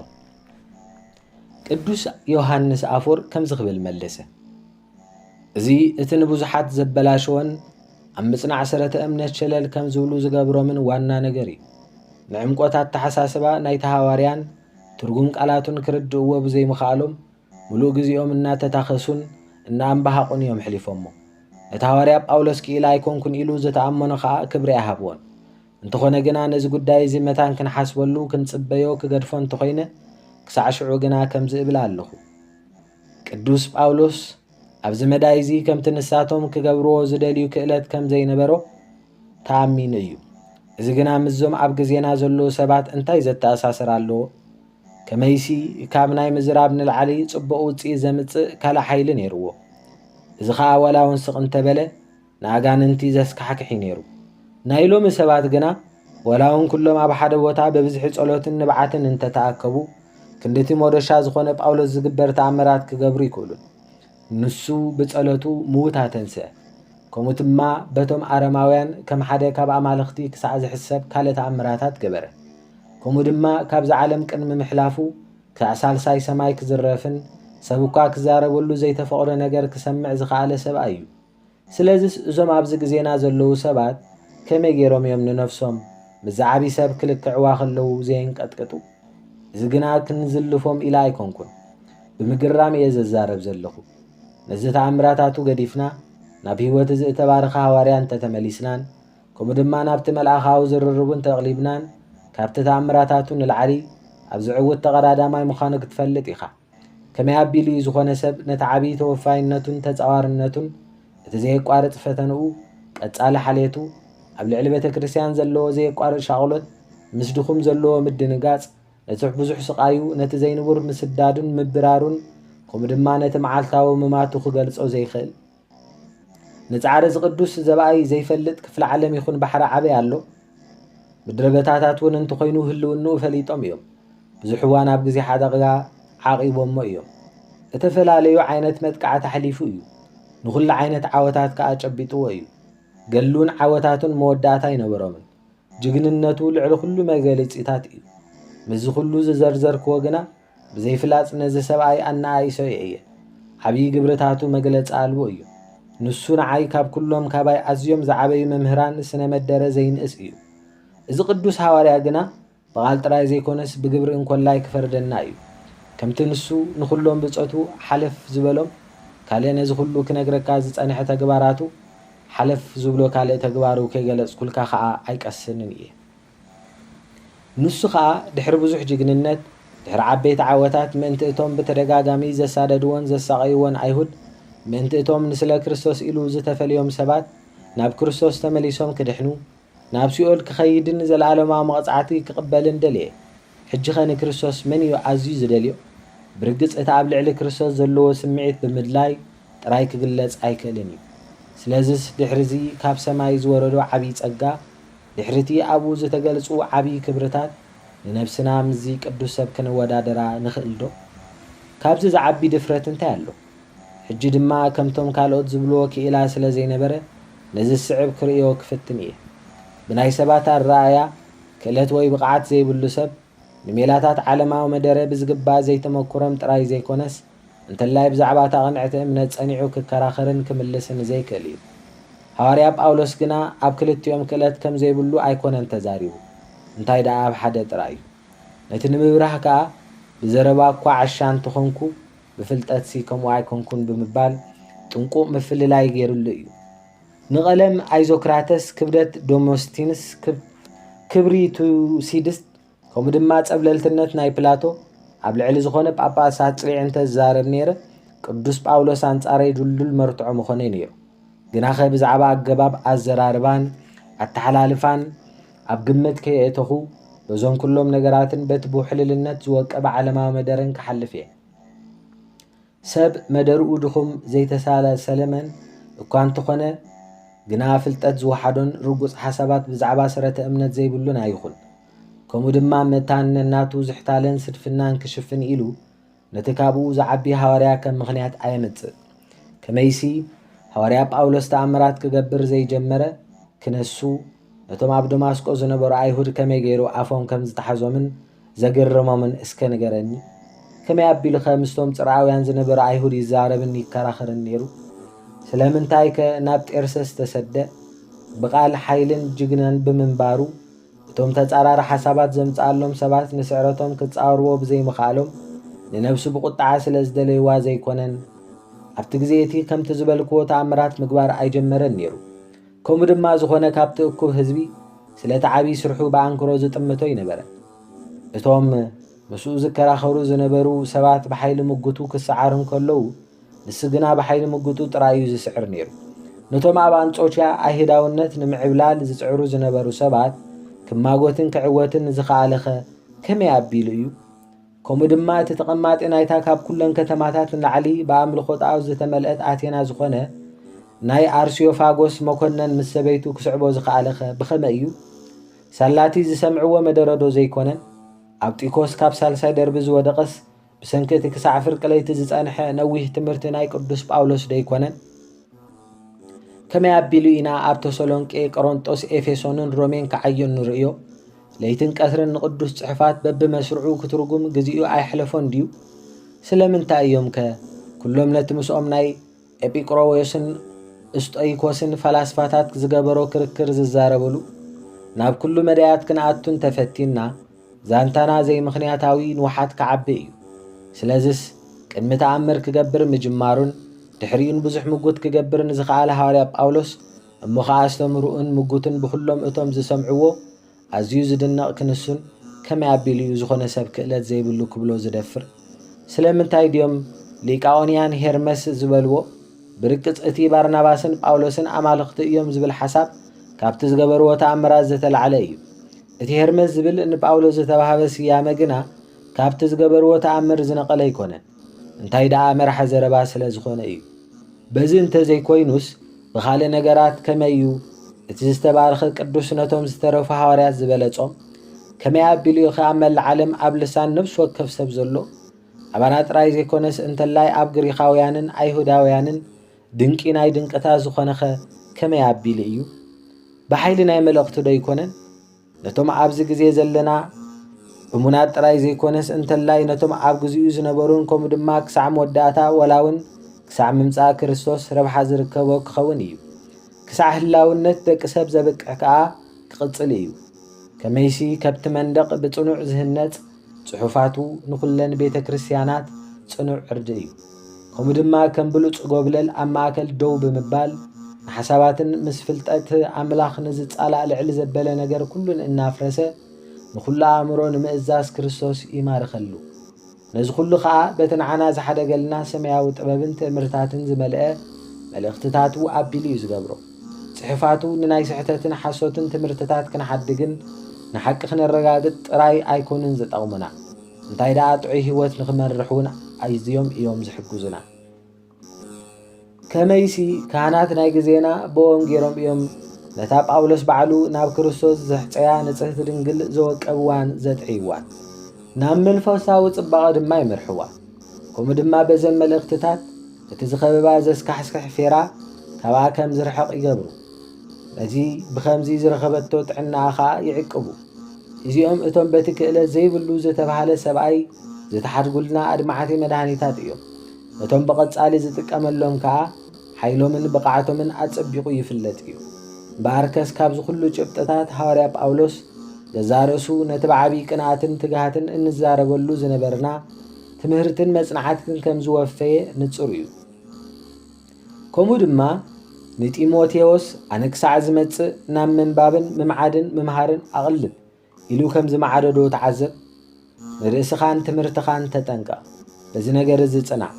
Speaker 1: ቅዱስ ዮሃንስ ኣፎር ከምዚ ክብል መለሰ። እዚ እቲ ንብዙሓት ዘበላሸወን ኣብ ምጽናዕ ሰረተ እምነት ሸለል ከም ዝብሉ ዝገብሮምን ዋና ነገር እዩ። ንዕምቆት ኣተሓሳስባ ናይቲ ሃዋርያን ትርጉም ቃላቱን ክርድእዎ ብዘይምኽኣሎም ምሉእ ግዜኦም እናተታኸሱን እናኣምባሃቑን እዮም ሕሊፎሞ። ነቲ ሃዋርያ ጳውሎስ ክኢላ ኣይኮንኩን ኢሉ ዝተኣመኖ ኸኣ ክብሪ ኣይሃብዎን። እንተኾነ ግና ነዚ ጉዳይ እዚ መታን ክንሓስበሉ ክንጽበዮ ክገድፎ እንተኾይነ ክሳዕ ሽዑ ግና ከምዚ እብል ኣለኹ። ቅዱስ ጳውሎስ ኣብዚ መዳይ እዚ ከምቲ ንሳቶም ክገብርዎ ዝደልዩ ክእለት ከም ዘይነበሮ ተኣሚኑ እዩ። እዚ ግና ምስዞም ኣብ ግዜና ዘለዉ ሰባት እንታይ ዘተኣሳስር ኣለዎ? ከመይሲ ካብ ናይ ምዝራብ ንላዕሊ ጽቡቕ ውጽኢት ዘምጽእ ካልእ ሓይሊ ነይርዎ። እዚ ኸኣ ዋላ እውን ስቕ እንተበለ ንኣጋንንቲ ዘስካሕክሕ'ዩ ነይሩ። ናይ ሎሚ ሰባት ግና ዋላ'ውን ኩሎም ኣብ ሓደ ቦታ ብብዝሒ ጸሎትን ንብዓትን እንተ ተኣከቡ፣ ክንድ'ቲ ሞዶሻ ዝኾነ ጳውሎስ ዝግበር ተኣምራት ክገብሩ ኣይክእሉን። ንሱ ብጸሎቱ ምዉት ኣተንስኣ። ከምኡ ድማ በቶም ኣረማውያን ከም ሓደ ካብ ኣማልኽቲ ክሳዕ ዝሕሰብ ካልእ ተኣምራታት ገበረ። ከምኡ ድማ ካብዛ ዓለም ቅድሚ ምሕላፉ ክሳዕ ሳልሳይ ሰማይ ክዝረፍን ሰብ እኳ ክዛረበሉ ዘይተፈቕዶ ነገር ክሰምዕ ዝኸኣለ ሰብኣይ'ዩ። ስለዚስ እዞም ኣብዚ ግዜና ዘለዉ ሰባት ከመይ ገይሮም እዮም ንነፍሶም ምስዚ ዓቢ ሰብ ክልክዕዋ ከለዉ ዘየንቀጥቅጡ? እዚ ግና ክንዝልፎም ኢለ ኣይኮንኩን። ብምግራም እየ ዘዛረብ ዘለኹ። ነዚ ተኣምራታቱ ገዲፍና ናብ ህይወት እዚ እተባረኸ ሃዋርያ እንተ ተመሊስናን ከምኡ ድማ ናብቲ መልኣኻዊ ዝርርቡ እንተ ኣቕሊብናን ካብቲ ተኣምራታቱ ንላዕሊ ኣብዚ ዕውት ተቐዳዳማይ ምዃኑ ክትፈልጥ ኢኻ። ከመይ ኣቢሉ እዩ ዝኾነ ሰብ ነቲ ዓብዪ ተወፋይነቱን ተጻዋርነቱን፣ እቲ ዘየቋርጽ ፈተንኡ፣ ቀጻሊ ሓልየቱ፣ ኣብ ልዕሊ ቤተ ክርስቲያን ዘለዎ ዘየቋርጽ ሻቕሎት፣ ምስ ድኹም ዘለዎ ምድንጋጽ፣ ነቲ ብዙሕ ስቓዩ፣ ነቲ ዘይንቡር ምስዳዱን ምብራሩን፣ ከምኡ ድማ ነቲ መዓልታዊ ምማቱ ክገልጾ ዘይክእል? ንጻዕሪ እዚ ቅዱስ ዘብኣይ ዘይፈልጥ ክፍለ ዓለም ይኹን ባሕሪ ዓበይ ኣሎ? ምድረበታታት እውን እንተኾይኑ ህልውንኡ ፈሊጦም እዮም። ብዙሕ እዋን ኣብ ግዜ ሓደጋ ዓቒቦሞ እዮም። እተፈላለዩ ዓይነት መጥቃዕቲ ኣሕሊፉ እዩ። ንኹሉ ዓይነት ዓወታት ከኣ ጨቢጥዎ እዩ። ገድሉን ዓወታቱን መወዳእታ ኣይነበሮምን። ጅግንነቱ ልዕሊ ኩሉ መገሊጺታት እዩ። ምስዚ ኩሉ ዝዘርዘርክዎ ግና ብዘይፍላጥ ነዚ ሰብኣይ ኣነኣኢሰዮ እየ። ዓብዪ ግብርታቱ መግለጺ ኣልቦ እዩ። ንሱ ንዓይ ካብ ኩሎም ካባይ ኣዝዮም ዝዓበዩ መምህራን ስነ መደረ ዘይንእስ እዩ። እዚ ቅዱስ ሃዋርያ ግና ብቓል ጥራይ ዘይኮነስ ብግብሪ እንኮላይ ክፈርደና እዩ። ከምቲ ንሱ ንኹሎም ብጾቱ ሓለፍ ዝበሎም ካልእ ነዚ ኩሉ ክነግረካ ዝጸንሐ ተግባራቱ ሓለፍ ዝብሎ ካልእ ተግባሩ ከይገለጽኩልካ ከኣ ኣይቀስንን እየ። ንሱ ከኣ ድሕሪ ብዙሕ ጅግንነት፣ ድሕሪ ዓበይቲ ዓወታት፣ ምእንቲ እቶም ብተደጋጋሚ ዘሳደድዎን ዘሳቐይዎን ኣይሁድ፣ ምእንቲ እቶም ንስለ ክርስቶስ ኢሉ ዝተፈልዮም ሰባት፣ ናብ ክርስቶስ ተመሊሶም ክድሕኑ፣ ናብ ሲኦል ክኸይድን ዘለኣለማዊ መቕጻዕቲ ክቕበልን ደለየ። ሕጂኸ ንክርስቶስ መን እዩ ኣዝዩ ዝደልዮ? ብርግጽ እቲ ኣብ ልዕሊ ክርስቶስ ዘለዎ ስምዒት ብምድላይ ጥራይ ክግለጽ ኣይክእልን እዩ። ስለዝስ ድሕሪዚ ካብ ሰማይ ዝወረዶ ዓቢይ ጸጋ፣ ድሕሪ'ቲ ኣብኡ ዝተገልጹ ዓቢ ክብርታት፣ ንነብስና ምስዚ ቅዱስ ሰብ ከነወዳድራ ንኽእልዶ? ካብዚ ዝዓቢ ድፍረት እንታይ ኣሎ? ሕጂ ድማ ከምቶም ካልኦት ዝብልዎ ክኢላ ስለ ዘይነበረ፣ ነዚ ዝስዕብ ክርእዮ ክፍትን ኢየ። ብናይ ሰባት ኣረኣእያ፣ ክእለት ወይ ብቕዓት ዘይብሉ ሰብ፣ ንሜላታት ዓለማዊ መደረ ብዝግባእ ዘይተመኩሮም ጥራይ ዘይኮነስ፣ እንተላይ ብዛዕባ እታ ቅንዕቲ እምነት ጸኒዑ ክከራኸርን ክምልስን ዘይክእል እዩ። ሃዋርያ ጳውሎስ ግና ኣብ ክልቲኦም ክእለት ከም ዘይብሉ ኣይኰነን ተዛሪቡ፣ እንታይ ደኣ ኣብ ሓደ ጥራይ እዩ። ነቲ ንምብራህ ከኣ፣ ብዘረባ እኳ ዓሻ እንተ ዀንኩ፣ ብፍልጠትሲ ከምኡ ኣይኰንኩን ብምባል ጥንቁቕ ምፍልላይ ገይሩሉ እዩ። ንቐለም ኣይዞክራተስ፣ ክብደት ደሞስቲንስ፣ ክብሪ ቱሲድስ፣ ከምኡ ድማ ጸብለልትነት ናይ ፕላቶ ኣብ ልዕሊ ዝኾነ ጳጳስ ኣጽሪዕ እንተ ዝዛረብ ነይረ ቅዱስ ጳውሎስ ኣንጻረይ ድልዱል መርትዖ ምኾነ ነይሩ ግናኸ ብዛዕባ ኣገባብ ኣዘራርባን ኣተሓላልፋን ኣብ ግምት ከየእተኹ በዞም ኩሎም ነገራትን በቲ ብውሕልልነት ዝወቀበ ዓለማዊ መደረን ክሓልፍ እየ ሰብ መደርኡ ድኹም ዘይተሳለ ሰለመን እኳ እንተኾነ ግና ፍልጠት ዝወሓዶን ርጉጽ ሓሳባት ብዛዕባ ሰረተ እምነት ዘይብሉን ኣይኹን። ከምኡ ድማ መታን ነናቱ ዝሕታለን ስድፍናን ክሽፍን ኢሉ ነቲ ካብኡ ዝዓቢ ሃዋርያ ከም ምኽንያት ኣየምጽእ። ከመይሲ ሃዋርያ ጳውሎስ ተኣምራት ክገብር ዘይጀመረ ክነሱ ነቶም ኣብ ደማስቆ ዝነበሩ ኣይሁድ ከመይ ገይሩ ኣፎም ከም ዝተሓዞምን ዘገረሞምን እስከ ንገረኒ? ከመይ ኣቢሉኸ ምስቶም ጽርዓውያን ዝነበረ ኣይሁድ ይዛረብን ይከራኸርን ነይሩ? ስለምንታይከ ናብ ጤርሰስ ተሰደ? ብቓል ሓይልን ጅግናን ብምንባሩ፣ እቶም ተጻራሪ ሓሳባት ዘምጽኣሎም ሰባት ንስዕረቶም ክጻወርዎ ብዘይምኽኣሎም፣ ንነብሱ ብቝጥዓ ስለ ዝደለይዋ ዘይኰነን፣ ኣብቲ ግዜ እቲ ከምቲ ዝበልክዎ ተኣምራት ምግባር ኣይጀመረን ነይሩ። ከምኡ ድማ ዝኾነ ካብቲ እኩብ ህዝቢ ስለቲ ዓቢይ ስርሑ ብኣንክሮ ዝጥምቶ ኣይነበረን። እቶም ምስኡ ዝከራኸሩ ዝነበሩ ሰባት ብሓይሊ ምጉቱ ክሰዓር እንከለዉ፣ ንሱ ግና ብሓይሊ ምጉቱ ጥራይ እዩ ዝስዕር ነይሩ። ነቶም ኣብ ኣንጾኪያ ኣይህዳውነት ንምዕብላል ዝጽዕሩ ዝነበሩ ሰባት ክማጎትን ክዕወትን ዝኸኣለኸ ከመይ ኣቢሉ እዩ? ከምኡ ድማ እቲ ተቐማጢ ናይታ ካብ ኩለን ከተማታት ንላዕሊ ብኣምልኾ ጣኦት ዝተመልአት ኣቴና ዝኾነ ናይ ኣርስዮፋጎስ መኮነን ምስ ሰበይቱ ክስዕቦ ዝኸኣለኸ ብኸመይ እዩ? ሳላቲ ዝሰምዕዎ መደረዶ ዘይኮነን? ኣብ ጢኮስ ካብ ሳልሳይ ደርቢ ዝወደቐስ ብሰንኪ እቲ ክሳዕ ፍርቂ ለይቲ ዝጸንሐ ነዊህ ትምህርቲ ናይ ቅዱስ ጳውሎስ ደይኮነን? ከመይ ኣቢሉ ኢና ኣብ ተሰሎንቄ፣ ቆሮንጦስ፣ ኤፌሶንን ሮሜን ክዓዩ እንርእዮ? ለይትን ቀትርን ንቅዱስ ጽሑፋት በብመስርዑ ክትርጉም ግዚኡ ኣየሕለፎን ድዩ? ስለምንታይ እዮምከ ኩሎም ነቲ ምስኦም ናይ ኤጲቅሮዎስን እስጦይኮስን ፈላስፋታት ዝገበሮ ክርክር ዝዛረብሉ? ናብ ኩሉ መዳያት ክንኣቱ እንተ ፈቲንና ዛንታና ዘይምኽንያታዊ ንውሓት ክዓቢ እዩ። ስለዝስ ቅድሚ ተኣምር ክገብር ምጅማሩን ድሕሪኡን ብዙሕ ምጉት ክገብር ንዝኸኣለ ሃዋርያ ጳውሎስ እሞ ኸኣ ኣስተምህሮኡን ምጉቱን ብኹሎም እቶም ዝሰምዕዎ ኣዝዩ ዝድነቕ ክንሱን ከመይ ኣቢሉ እዩ ዝኾነ ሰብ ክእለት ዘይብሉ ክብሎ ዝደፍር? ስለምንታይ ድዮም ሊቃኦንያን ሄርመስ ዝበልዎ ብርግጽ እቲ ባርናባስን ጳውሎስን ኣማልኽቲ እዮም ዝብል ሓሳብ ካብቲ ዝገበርዎ ተኣምራት ዝተላዕለ እዩ። እቲ ሄርመስ ዝብል ንጳውሎስ ዝተባህበ ስያመ ግና ካብቲ ዝገበርዎ ተኣምር ዝነቐለ ኣይኮነን። እንታይ ደኣ መራሒ ዘረባ ስለ ዝኾነ እዩ። በዚ እንተ ዘይኮይኑስ ብኻልእ ነገራት ከመይ እዩ እቲ ዝተባረኸ ቅዱስ ነቶም ዝተረፉ ሃዋርያት ዝበለጾም? ከመይ ኣቢሉ እዩ ኸኣ መላእ ዓለም ኣብ ልሳን ነፍሲ ወከፍ ሰብ ዘሎ ኣባና ጥራይ ዘይኮነስ እንተላይ ኣብ ግሪኻውያንን ኣይሁዳውያንን ድንቂ ናይ ድንቅታት ዝኾነኸ ከመይ ኣቢሉ እዩ? ብሓይሊ ናይ መልእኽቱ ዶ ኣይኮነን? ነቶም ኣብዚ ግዜ ዘለና እሙናት ጥራይ ዘይኮነስ እንተላይ ነቶም ኣብ ግዚኡ ዝነበሩን ከምኡ ድማ ክሳዕ መወዳእታ ወላ እውን ክሳዕ ምምጻእ ክርስቶስ ረብሓ ዝርከቦ ክኸውን እዩ። ክሳዕ ህላውነት ደቂ ሰብ ዘብቅዕ ከኣ ክቕጽል እዩ። ከመይሲ ከብቲ መንደቕ ብጽኑዕ ዝህነጽ ጽሑፋቱ ንኹለን ቤተ ክርስቲያናት ጽኑዕ ዕርዲ እዩ። ከምኡ ድማ ከም ብሉጽ ጎብለል ኣብ ማእከል ደው ብምባል ንሓሳባትን ምስ ፍልጠት ኣምላኽ ንዝጻላእ ልዕሊ ዘበለ ነገር ኩሉን እናፍረሰ ንኹሉ ኣእምሮ ንምእዛዝ ክርስቶስ ይማርኸሉ። ነዚ ኩሉ ከኣ በቲ ንዓና ዝሓደገልና ሰማያዊ ጥበብን ትእምርታትን ዝመልአ መልእኽትታቱ ኣቢሉ እዩ ዝገብሮ። ጽሑፋቱ ንናይ ስሕተትን ሓሶትን ትምህርትታት ክንሓድግን ንሓቂ ክነረጋግጽ ጥራይ ኣይኮኑን ዝጠቕሙና፣ እንታይ ደኣ ጥዑይ ህይወት ንኽመርሕ እውን ኣዝዮም እዮም ዝሕግዙና። ከመይሲ ካህናት ናይ ግዜና ብኦም ገይሮም እዮም ነታ ጳውሎስ ባዕሉ ናብ ክርስቶስ ዘሕጸያ ንጽህቲ ድንግል ዘወቀብዋን ዘጥዕይዋን፣ ናብ መንፈሳዊ ጽባቐ ድማ ይመርሕዋ። ከምኡ ድማ በዘን መልእኽትታት እቲ ዝኸበባ ዘስካሕስክሕ ፌራ ካብኣ ከም ዝርሕቕ ይገብሩ። በዚ ብኸምዚ ዝረኸበቶ ጥዕናኣ ኸኣ ይዕቅቡ። እዚኦም እቶም በቲ ክእለት ዘይብሉ ዝተባህለ ሰብኣይ ዝተሓድጉልና ኣድማዕቲ መድሃኒታት እዮም። እቶም ብቐጻሊ ዝጥቀመሎም ከኣ ሓይሎምን ብቕዓቶምን ኣጸቢቑ ይፍለጥ እዩ። እምበኣርከስ ካብዚ ኩሉ ጭብጥታት ሃዋርያ ጳውሎስ ገዛእ ርእሱ ነቲ ብዓቢይ ቅንኣትን ትግሃትን እንዛረበሉ ዝነበርና ትምህርትን መጽናዕትን ከም ዝወፈየ ንጹር እዩ። ከምኡ ድማ ንጢሞቴዎስ ኣነ ክሳዕ ዝመጽእ ናብ ምንባብን ምምዓድን ምምሃርን ኣቕልብ ኢሉ ከም ዝመዓደዶ ተዓዘብ። ንርእስኻን ትምህርትኻን ተጠንቀቕ፣ በዚ ነገር እዚ ጽናዕ፣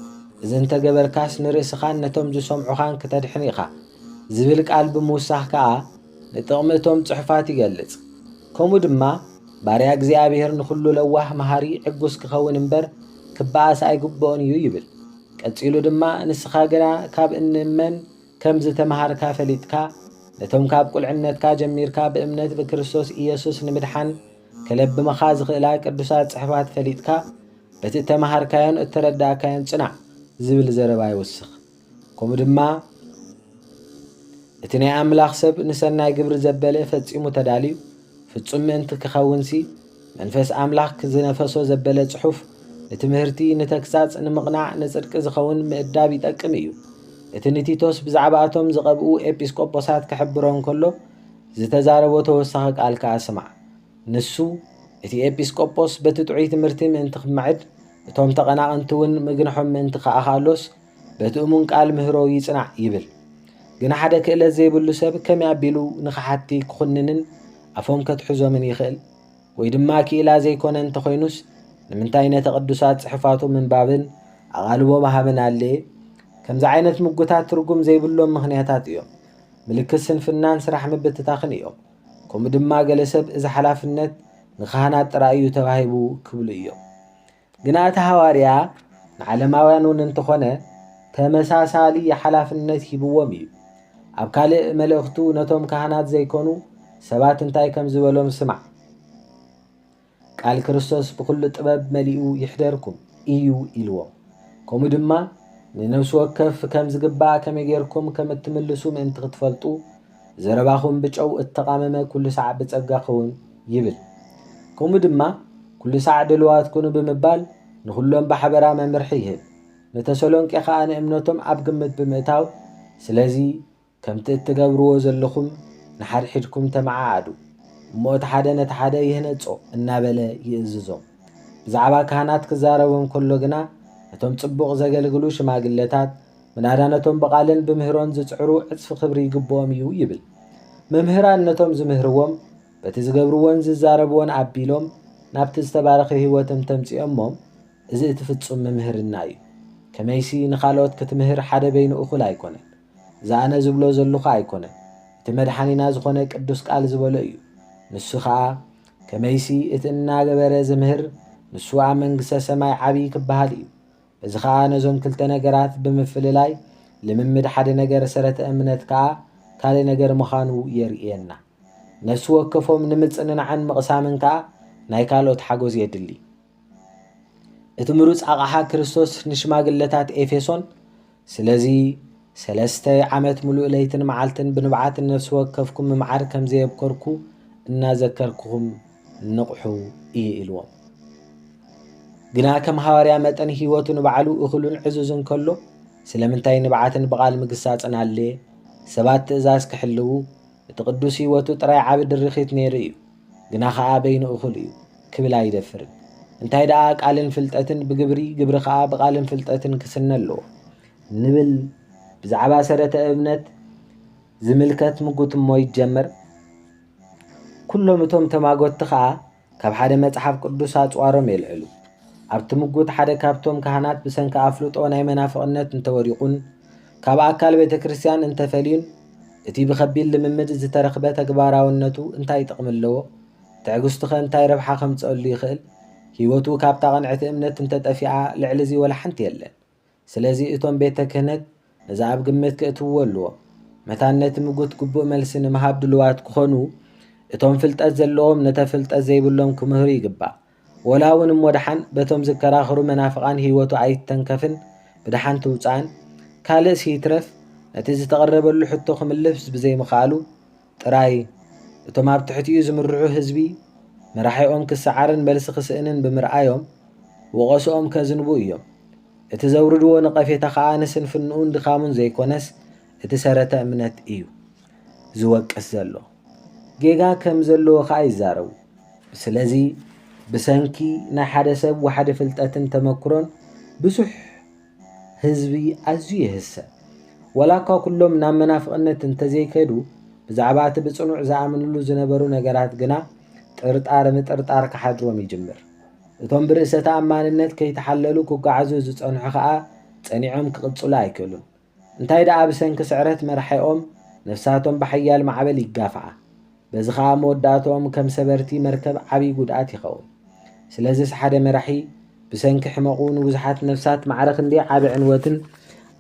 Speaker 1: እዚ እንተ ገበርካስ ንርእስኻን ነቶም ዝሰምዑኻን ክተድሕን ኢኻ ዝብል ቃል ብምውሳኽ ከኣ ንጥቕሚ እቶም ጽሑፋት ይገልጽ። ከምኡ ድማ ባርያ እግዚኣብሔር ንኹሉ ለዋህ መሃሪ ዕጉስ ክኸውን እምበር ክበኣስ ኣይግብኦን እዩ ይብል። ቀጺሉ ድማ ንስኻ ግና ካብ እንመን ከም ዝተመሃርካ ፈሊጥካ ነቶም ካብ ቁልዕነትካ ጀሚርካ ብእምነት ብክርስቶስ ኢየሱስ ንምድሓን ከለብምኻ ዝኽእላ ቅዱሳት ጽሕፋት ፈሊጥካ በቲ እተመሃርካዮን እተረዳእካዮን ጽናዕ ዝብል ዘረባ ይውስኽ። ከምኡ ድማ እቲ ናይ ኣምላኽ ሰብ ንሰናይ ግብሪ ዘበለ ፈጺሙ ተዳልዩ ፍጹም ምእንቲ ክኸውንሲ መንፈስ ኣምላኽ ዝነፈሶ ዘበለ ጽሑፍ ንትምህርቲ ንተግሳጽ ንምቕናዕ ንጽድቂ ዝኸውን ምእዳብ ይጠቅም እዩ እቲ ንቲቶስ ብዛዕባ እቶም ዝቐብኡ ኤጲስቆጶሳት ክሕብሮ እንከሎ ዝተዛረቦ ተወሳኺ ቃል ከኣ ስማዕ ንሱ እቲ ኤጲስቆጶስ በቲ ጥዑይ ትምህርቲ ምእንቲ ክምዕድ እቶም ተቐናቕንቲ እውን ምግንሖም ምእንቲ ከኣኻሎስ በቲ እሙን ቃል ምህሮ ይጽናዕ ይብል። ግን ሓደ ክእለት ዘይብሉ ሰብ ከመይ ኣቢሉ ንኸሓድቲ ክኹንንን ኣፎም ከትሕዞምን ይኽእል? ወይ ድማ ክኢላ ዘይኮነ እንተኾይኑስ ንምንታይ ነቲ ቅዱሳት ጽሑፋቱ ምንባብን ኣቓልቦ ምሃብን ኣድለየ? ከምዚ ዓይነት ምጉታት ትርጉም ዘይብሎም ምኽንያታት እዮም። ምልክት ስንፍናን ስራሕ ምብትታኽን እዮም። ከምኡ ድማ ገለ ሰብ እዚ ሓላፍነት ንካህናት ጥራይ እዩ ተባሂቡ ክብሉ እዮም። ግና እቲ ሃዋርያ ንዓለማውያን እውን እንተኾነ ተመሳሳሊ ሓላፍነት ሂብዎም ኢዩ። ኣብ ካልእ መልእኽቱ ነቶም ካህናት ዘይኮኑ ሰባት እንታይ ከም ዝበሎም ስማዕ፣ ቃል ክርስቶስ ብኹሉ ጥበብ መሊኡ ይሕደርኩም ኢዩ ኢልዎም። ከምኡ ድማ ንነፍሲ ወከፍ ከም ዝግባእ ከመይ ጌርኩም ከም እትምልሱ ምእንቲ ክትፈልጡ ዘረባኹም ብጨው እተቓመመ ኩሉ ሳዕ ብጸጋ ክኸውን ይብል። ከምኡ ድማ ኩሉ ሳዕ ድልዋት ኩኑ ብምባል ንኹሎም ብሓበራ መምርሒ ይህብ። ንተሰሎንቄ ኸኣ ንእምነቶም ኣብ ግምት ብምእታው ስለዚ ከምቲ እትገብርዎ ዘለኹም ንሓድሕድኩም ተመዓዓዱ እሞ እቲ ሓደ ነቲ ሓደ ይህነጾ እናበለ ይእዝዞም። ብዛዕባ ካህናት ክዛረቦም ከሎ ግና ነቶም ጽቡቕ ዘገልግሉ ሽማግለታት ምናዳ ነቶም ብቓልን ብምህሮን ዝጽዕሩ ዕጽፊ ክብሪ ይግብኦም እዩ ይብል። መምህራን ነቶም ዝምህርዎም በቲ ዝገብርዎን ዝዛረብዎን ኣቢሎም ናብቲ ዝተባረኸ ህይወትም ተምጽኦሞም እዚ እቲ ፍጹም ምምህርና እዩ። ከመይሲ ንኻልኦት ክትምህር ሓደ በይኑ እኹል ኣይኮነን። እዚ ኣነ ዝብሎ ዘሉኹ ኣይኮነን እቲ መድሓኒና ዝኾነ ቅዱስ ቃል ዝበሎ እዩ። ንሱ ኸኣ ከመይሲ እቲ እናገበረ ዝምህር ንሱ ኣብ መንግስተ ሰማይ ዓብዪ ክበሃል እዩ። እዚ ኸኣ ነዞም ክልተ ነገራት ብምፍልላይ ልምምድ ሓደ ነገር ሰረተ እምነት ከኣ ካልእ ነገር ምኻኑ የርእየና። ነፍሲ ወከፎም ንምጽንናዕን ምቕሳምን ከኣ ናይ ካልኦት ሓጎዝ የድሊ። እቲ ምሩጽ ኣቕሓ ክርስቶስ ንሽማግለታት ኤፌሶን ስለዚ ሰለስተ ዓመት ምሉእ ለይትን መዓልትን ብንብዓት ንነፍሲ ወከፍኩም ምምዓር ከም ዘየብከርኩ እናዘከርኩኹም ንቕሑ እዩ ኢልዎም። ግና ከም ሃዋርያ መጠን ህይወቱ ንባዕሉ እኹልን ዕዙዝን ከሎ ስለምንታይ ንብዓትን ብቓል ምግሳጽን ኣድለየ? ሰባት ትእዛዝ ክሕልዉ እቲ ቅዱስ ህይወቱ ጥራይ ዓቢ ድርኺት ነይሩ እዩ። ግና ኸኣ በይኑ እኹል እዩ ክብል ኣይደፍርን። እንታይ ደኣ ቃልን ፍልጠትን ብግብሪ ግብሪ ኸኣ ብቓልን ፍልጠትን ክስነ ኣለዎ ንብል ብዛዕባ ሰረተ እምነት ዝምልከት ምጉትሞ ይጀምር። ኩሎም እቶም ተማጎትቲ ከኣ ካብ ሓደ መጽሓፍ ቅዱስ ኣጽዋሮም የልዕሉ። ኣብቲ ምጉት ሓደ ካብቶም ካህናት ብሰንኪ ኣፍልጦ ናይ መናፍቕነት እንተ ወዲቑን ካብ ኣካል ቤተ ክርስቲያን እንተ ፈልዩን እቲ ብኸቢድ ልምምድ ዝተረኽበ ተግባራውነቱ እንታይ ጥቕሚ ኣለዎ? ትዕግስቱኸ እንታይ ረብሓ ከምጽኣሉ ይኽእል? ህይወቱ ካብታ ቅንዕቲ እምነት እንተ ጠፊኣ ልዕሊ እዚ ወላ ሓንቲ የለን። ስለዚ እቶም ቤተ ክህነት ነዚ ኣብ ግምት ከእትውዎ ኣለዎም። መታን ነቲ ምጉት ግቡእ መልሲ ንምሃብ ድሉዋት ክኾኑ እቶም ፍልጠት ዘለዎም ነተ ፍልጠት ዘይብሎም ክምህሩ ይግባእ። ወላ እውን እሞ ደሓን በቶም ዝከራኸሩ መናፍቓን ህይወቱ ኣይተንከፍን ብደሓን ትውጻእን ካልእስ ይትረፍ ነቲ ዝተቐረበሉ ሕቶ ክምልስ ብዘይምኽኣሉ ጥራይ እቶም ኣብ ትሕቲኡ ዝምርሑ ህዝቢ መራሒኦም ክሰዓርን መልሲ ክስእንን ብምርኣዮም ወቐስኦም ከዝንቡ እዮም። እቲ ዘውርድዎ ነቐፌታ ከኣ ንስንፍንኡን ድኻሙን ዘይኮነስ እቲ ሰረተ እምነት እዩ ዝወቅስ ዘሎ። ጌጋ ከም ዘለዎ ከኣ ይዛረቡ። ስለዚ ብሰንኪ ናይ ሓደ ሰብ ዋሕዲ ፍልጠትን ተመክሮን ብዙሕ ህዝቢ ኣዝዩ ይህሰ። ወላኳ ኩሎም ናብ መናፍቕነት እንተዘይከዱ፣ ብዛዕባ እቲ ብጽኑዕ ዝኣምንሉ ዝነበሩ ነገራት ግና ጥርጣረ ምጥርጣር ክሓድሮም ይጅምር። እቶም ብርእሰ ተኣማንነት ከይተሓለሉ ክጓዓዙ ዝጸንሑ ከኣ ጸኒዖም ክቕጽሉ ኣይክእሉን። እንታይ ደኣ ብሰንኪ ስዕረት መራሒኦም ነፍሳቶም ብሓያል ማዕበል ይጋፍዓ። በዚ ከኣ መወዳእትኦም ከም ሰበርቲ መርከብ ዓቢ ጉድኣት ይኸውን። ስለዝስ ሓደ መራሒ ብሰንኪ ሕመቑ ንብዙሓት ነፍሳት ማዕረ ክንደይ ዓቢ ዕንወትን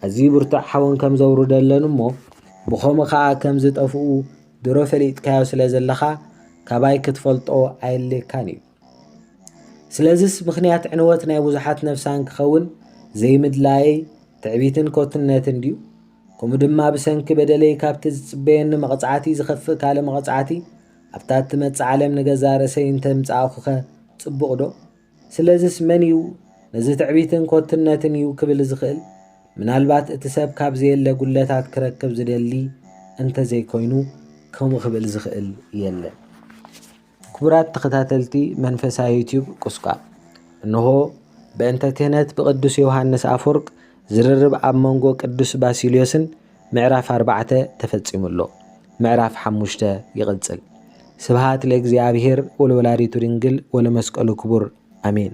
Speaker 1: ኣዝዩ ብርቱዕ ሓውን ከም ዘውርደለን እሞ ብኸምኡ ከኣ ከም ዝጠፍኡ ድሮ ፈሊጥካዮ ስለ ዘለኻ ካባይ ክትፈልጦ ኣየድልየካን እዩ። ስለዝስ ምኽንያት ዕንወት ናይ ብዙሓት ነፍሳን ክኸውን ዘይምድላየይ ትዕቢትን ኮትነትን ድዩ? ከምኡ ድማ ብሰንኪ በደለይ ካብቲ ዝጽበየኒ መቕጻዕቲ ዝኸፍእ ካልእ መቕጻዕቲ ኣብታ እትመጽእ ዓለም ንገዛ ርእሰይ እንተምጻእኹኸ ጽቡቕ ዶ? ስለዝስ መን እዩ ነዚ ትዕቢትን ኮትነትን እዩ ክብል ዝኽእል? ምናልባት እቲ ሰብ ካብ ዘየለ ጉድለታት ክረክብ ዝደሊ እንተዘይኮይኑ ከምኡ ክብል ዝኽእል የለን። ክቡራት ተኸታተልቲ መንፈሳ ዩቱብ ቁስቋም እንሆ በእንተ ክህነት ብቅዱስ ዮውሃንስ ኣፎርቅ ዝርርብ ኣብ መንጎ ቅዱስ ባሲልዮስን ምዕራፍ ኣርባዕተ ተፈጺሙ ኣሎ ምዕራፍ ሓሙሽተ ይቅጽል ስብሃት ለእግዚኣብሄር ወለወላዲቱ ድንግል ወለመስቀሉ ክቡር ኣሜን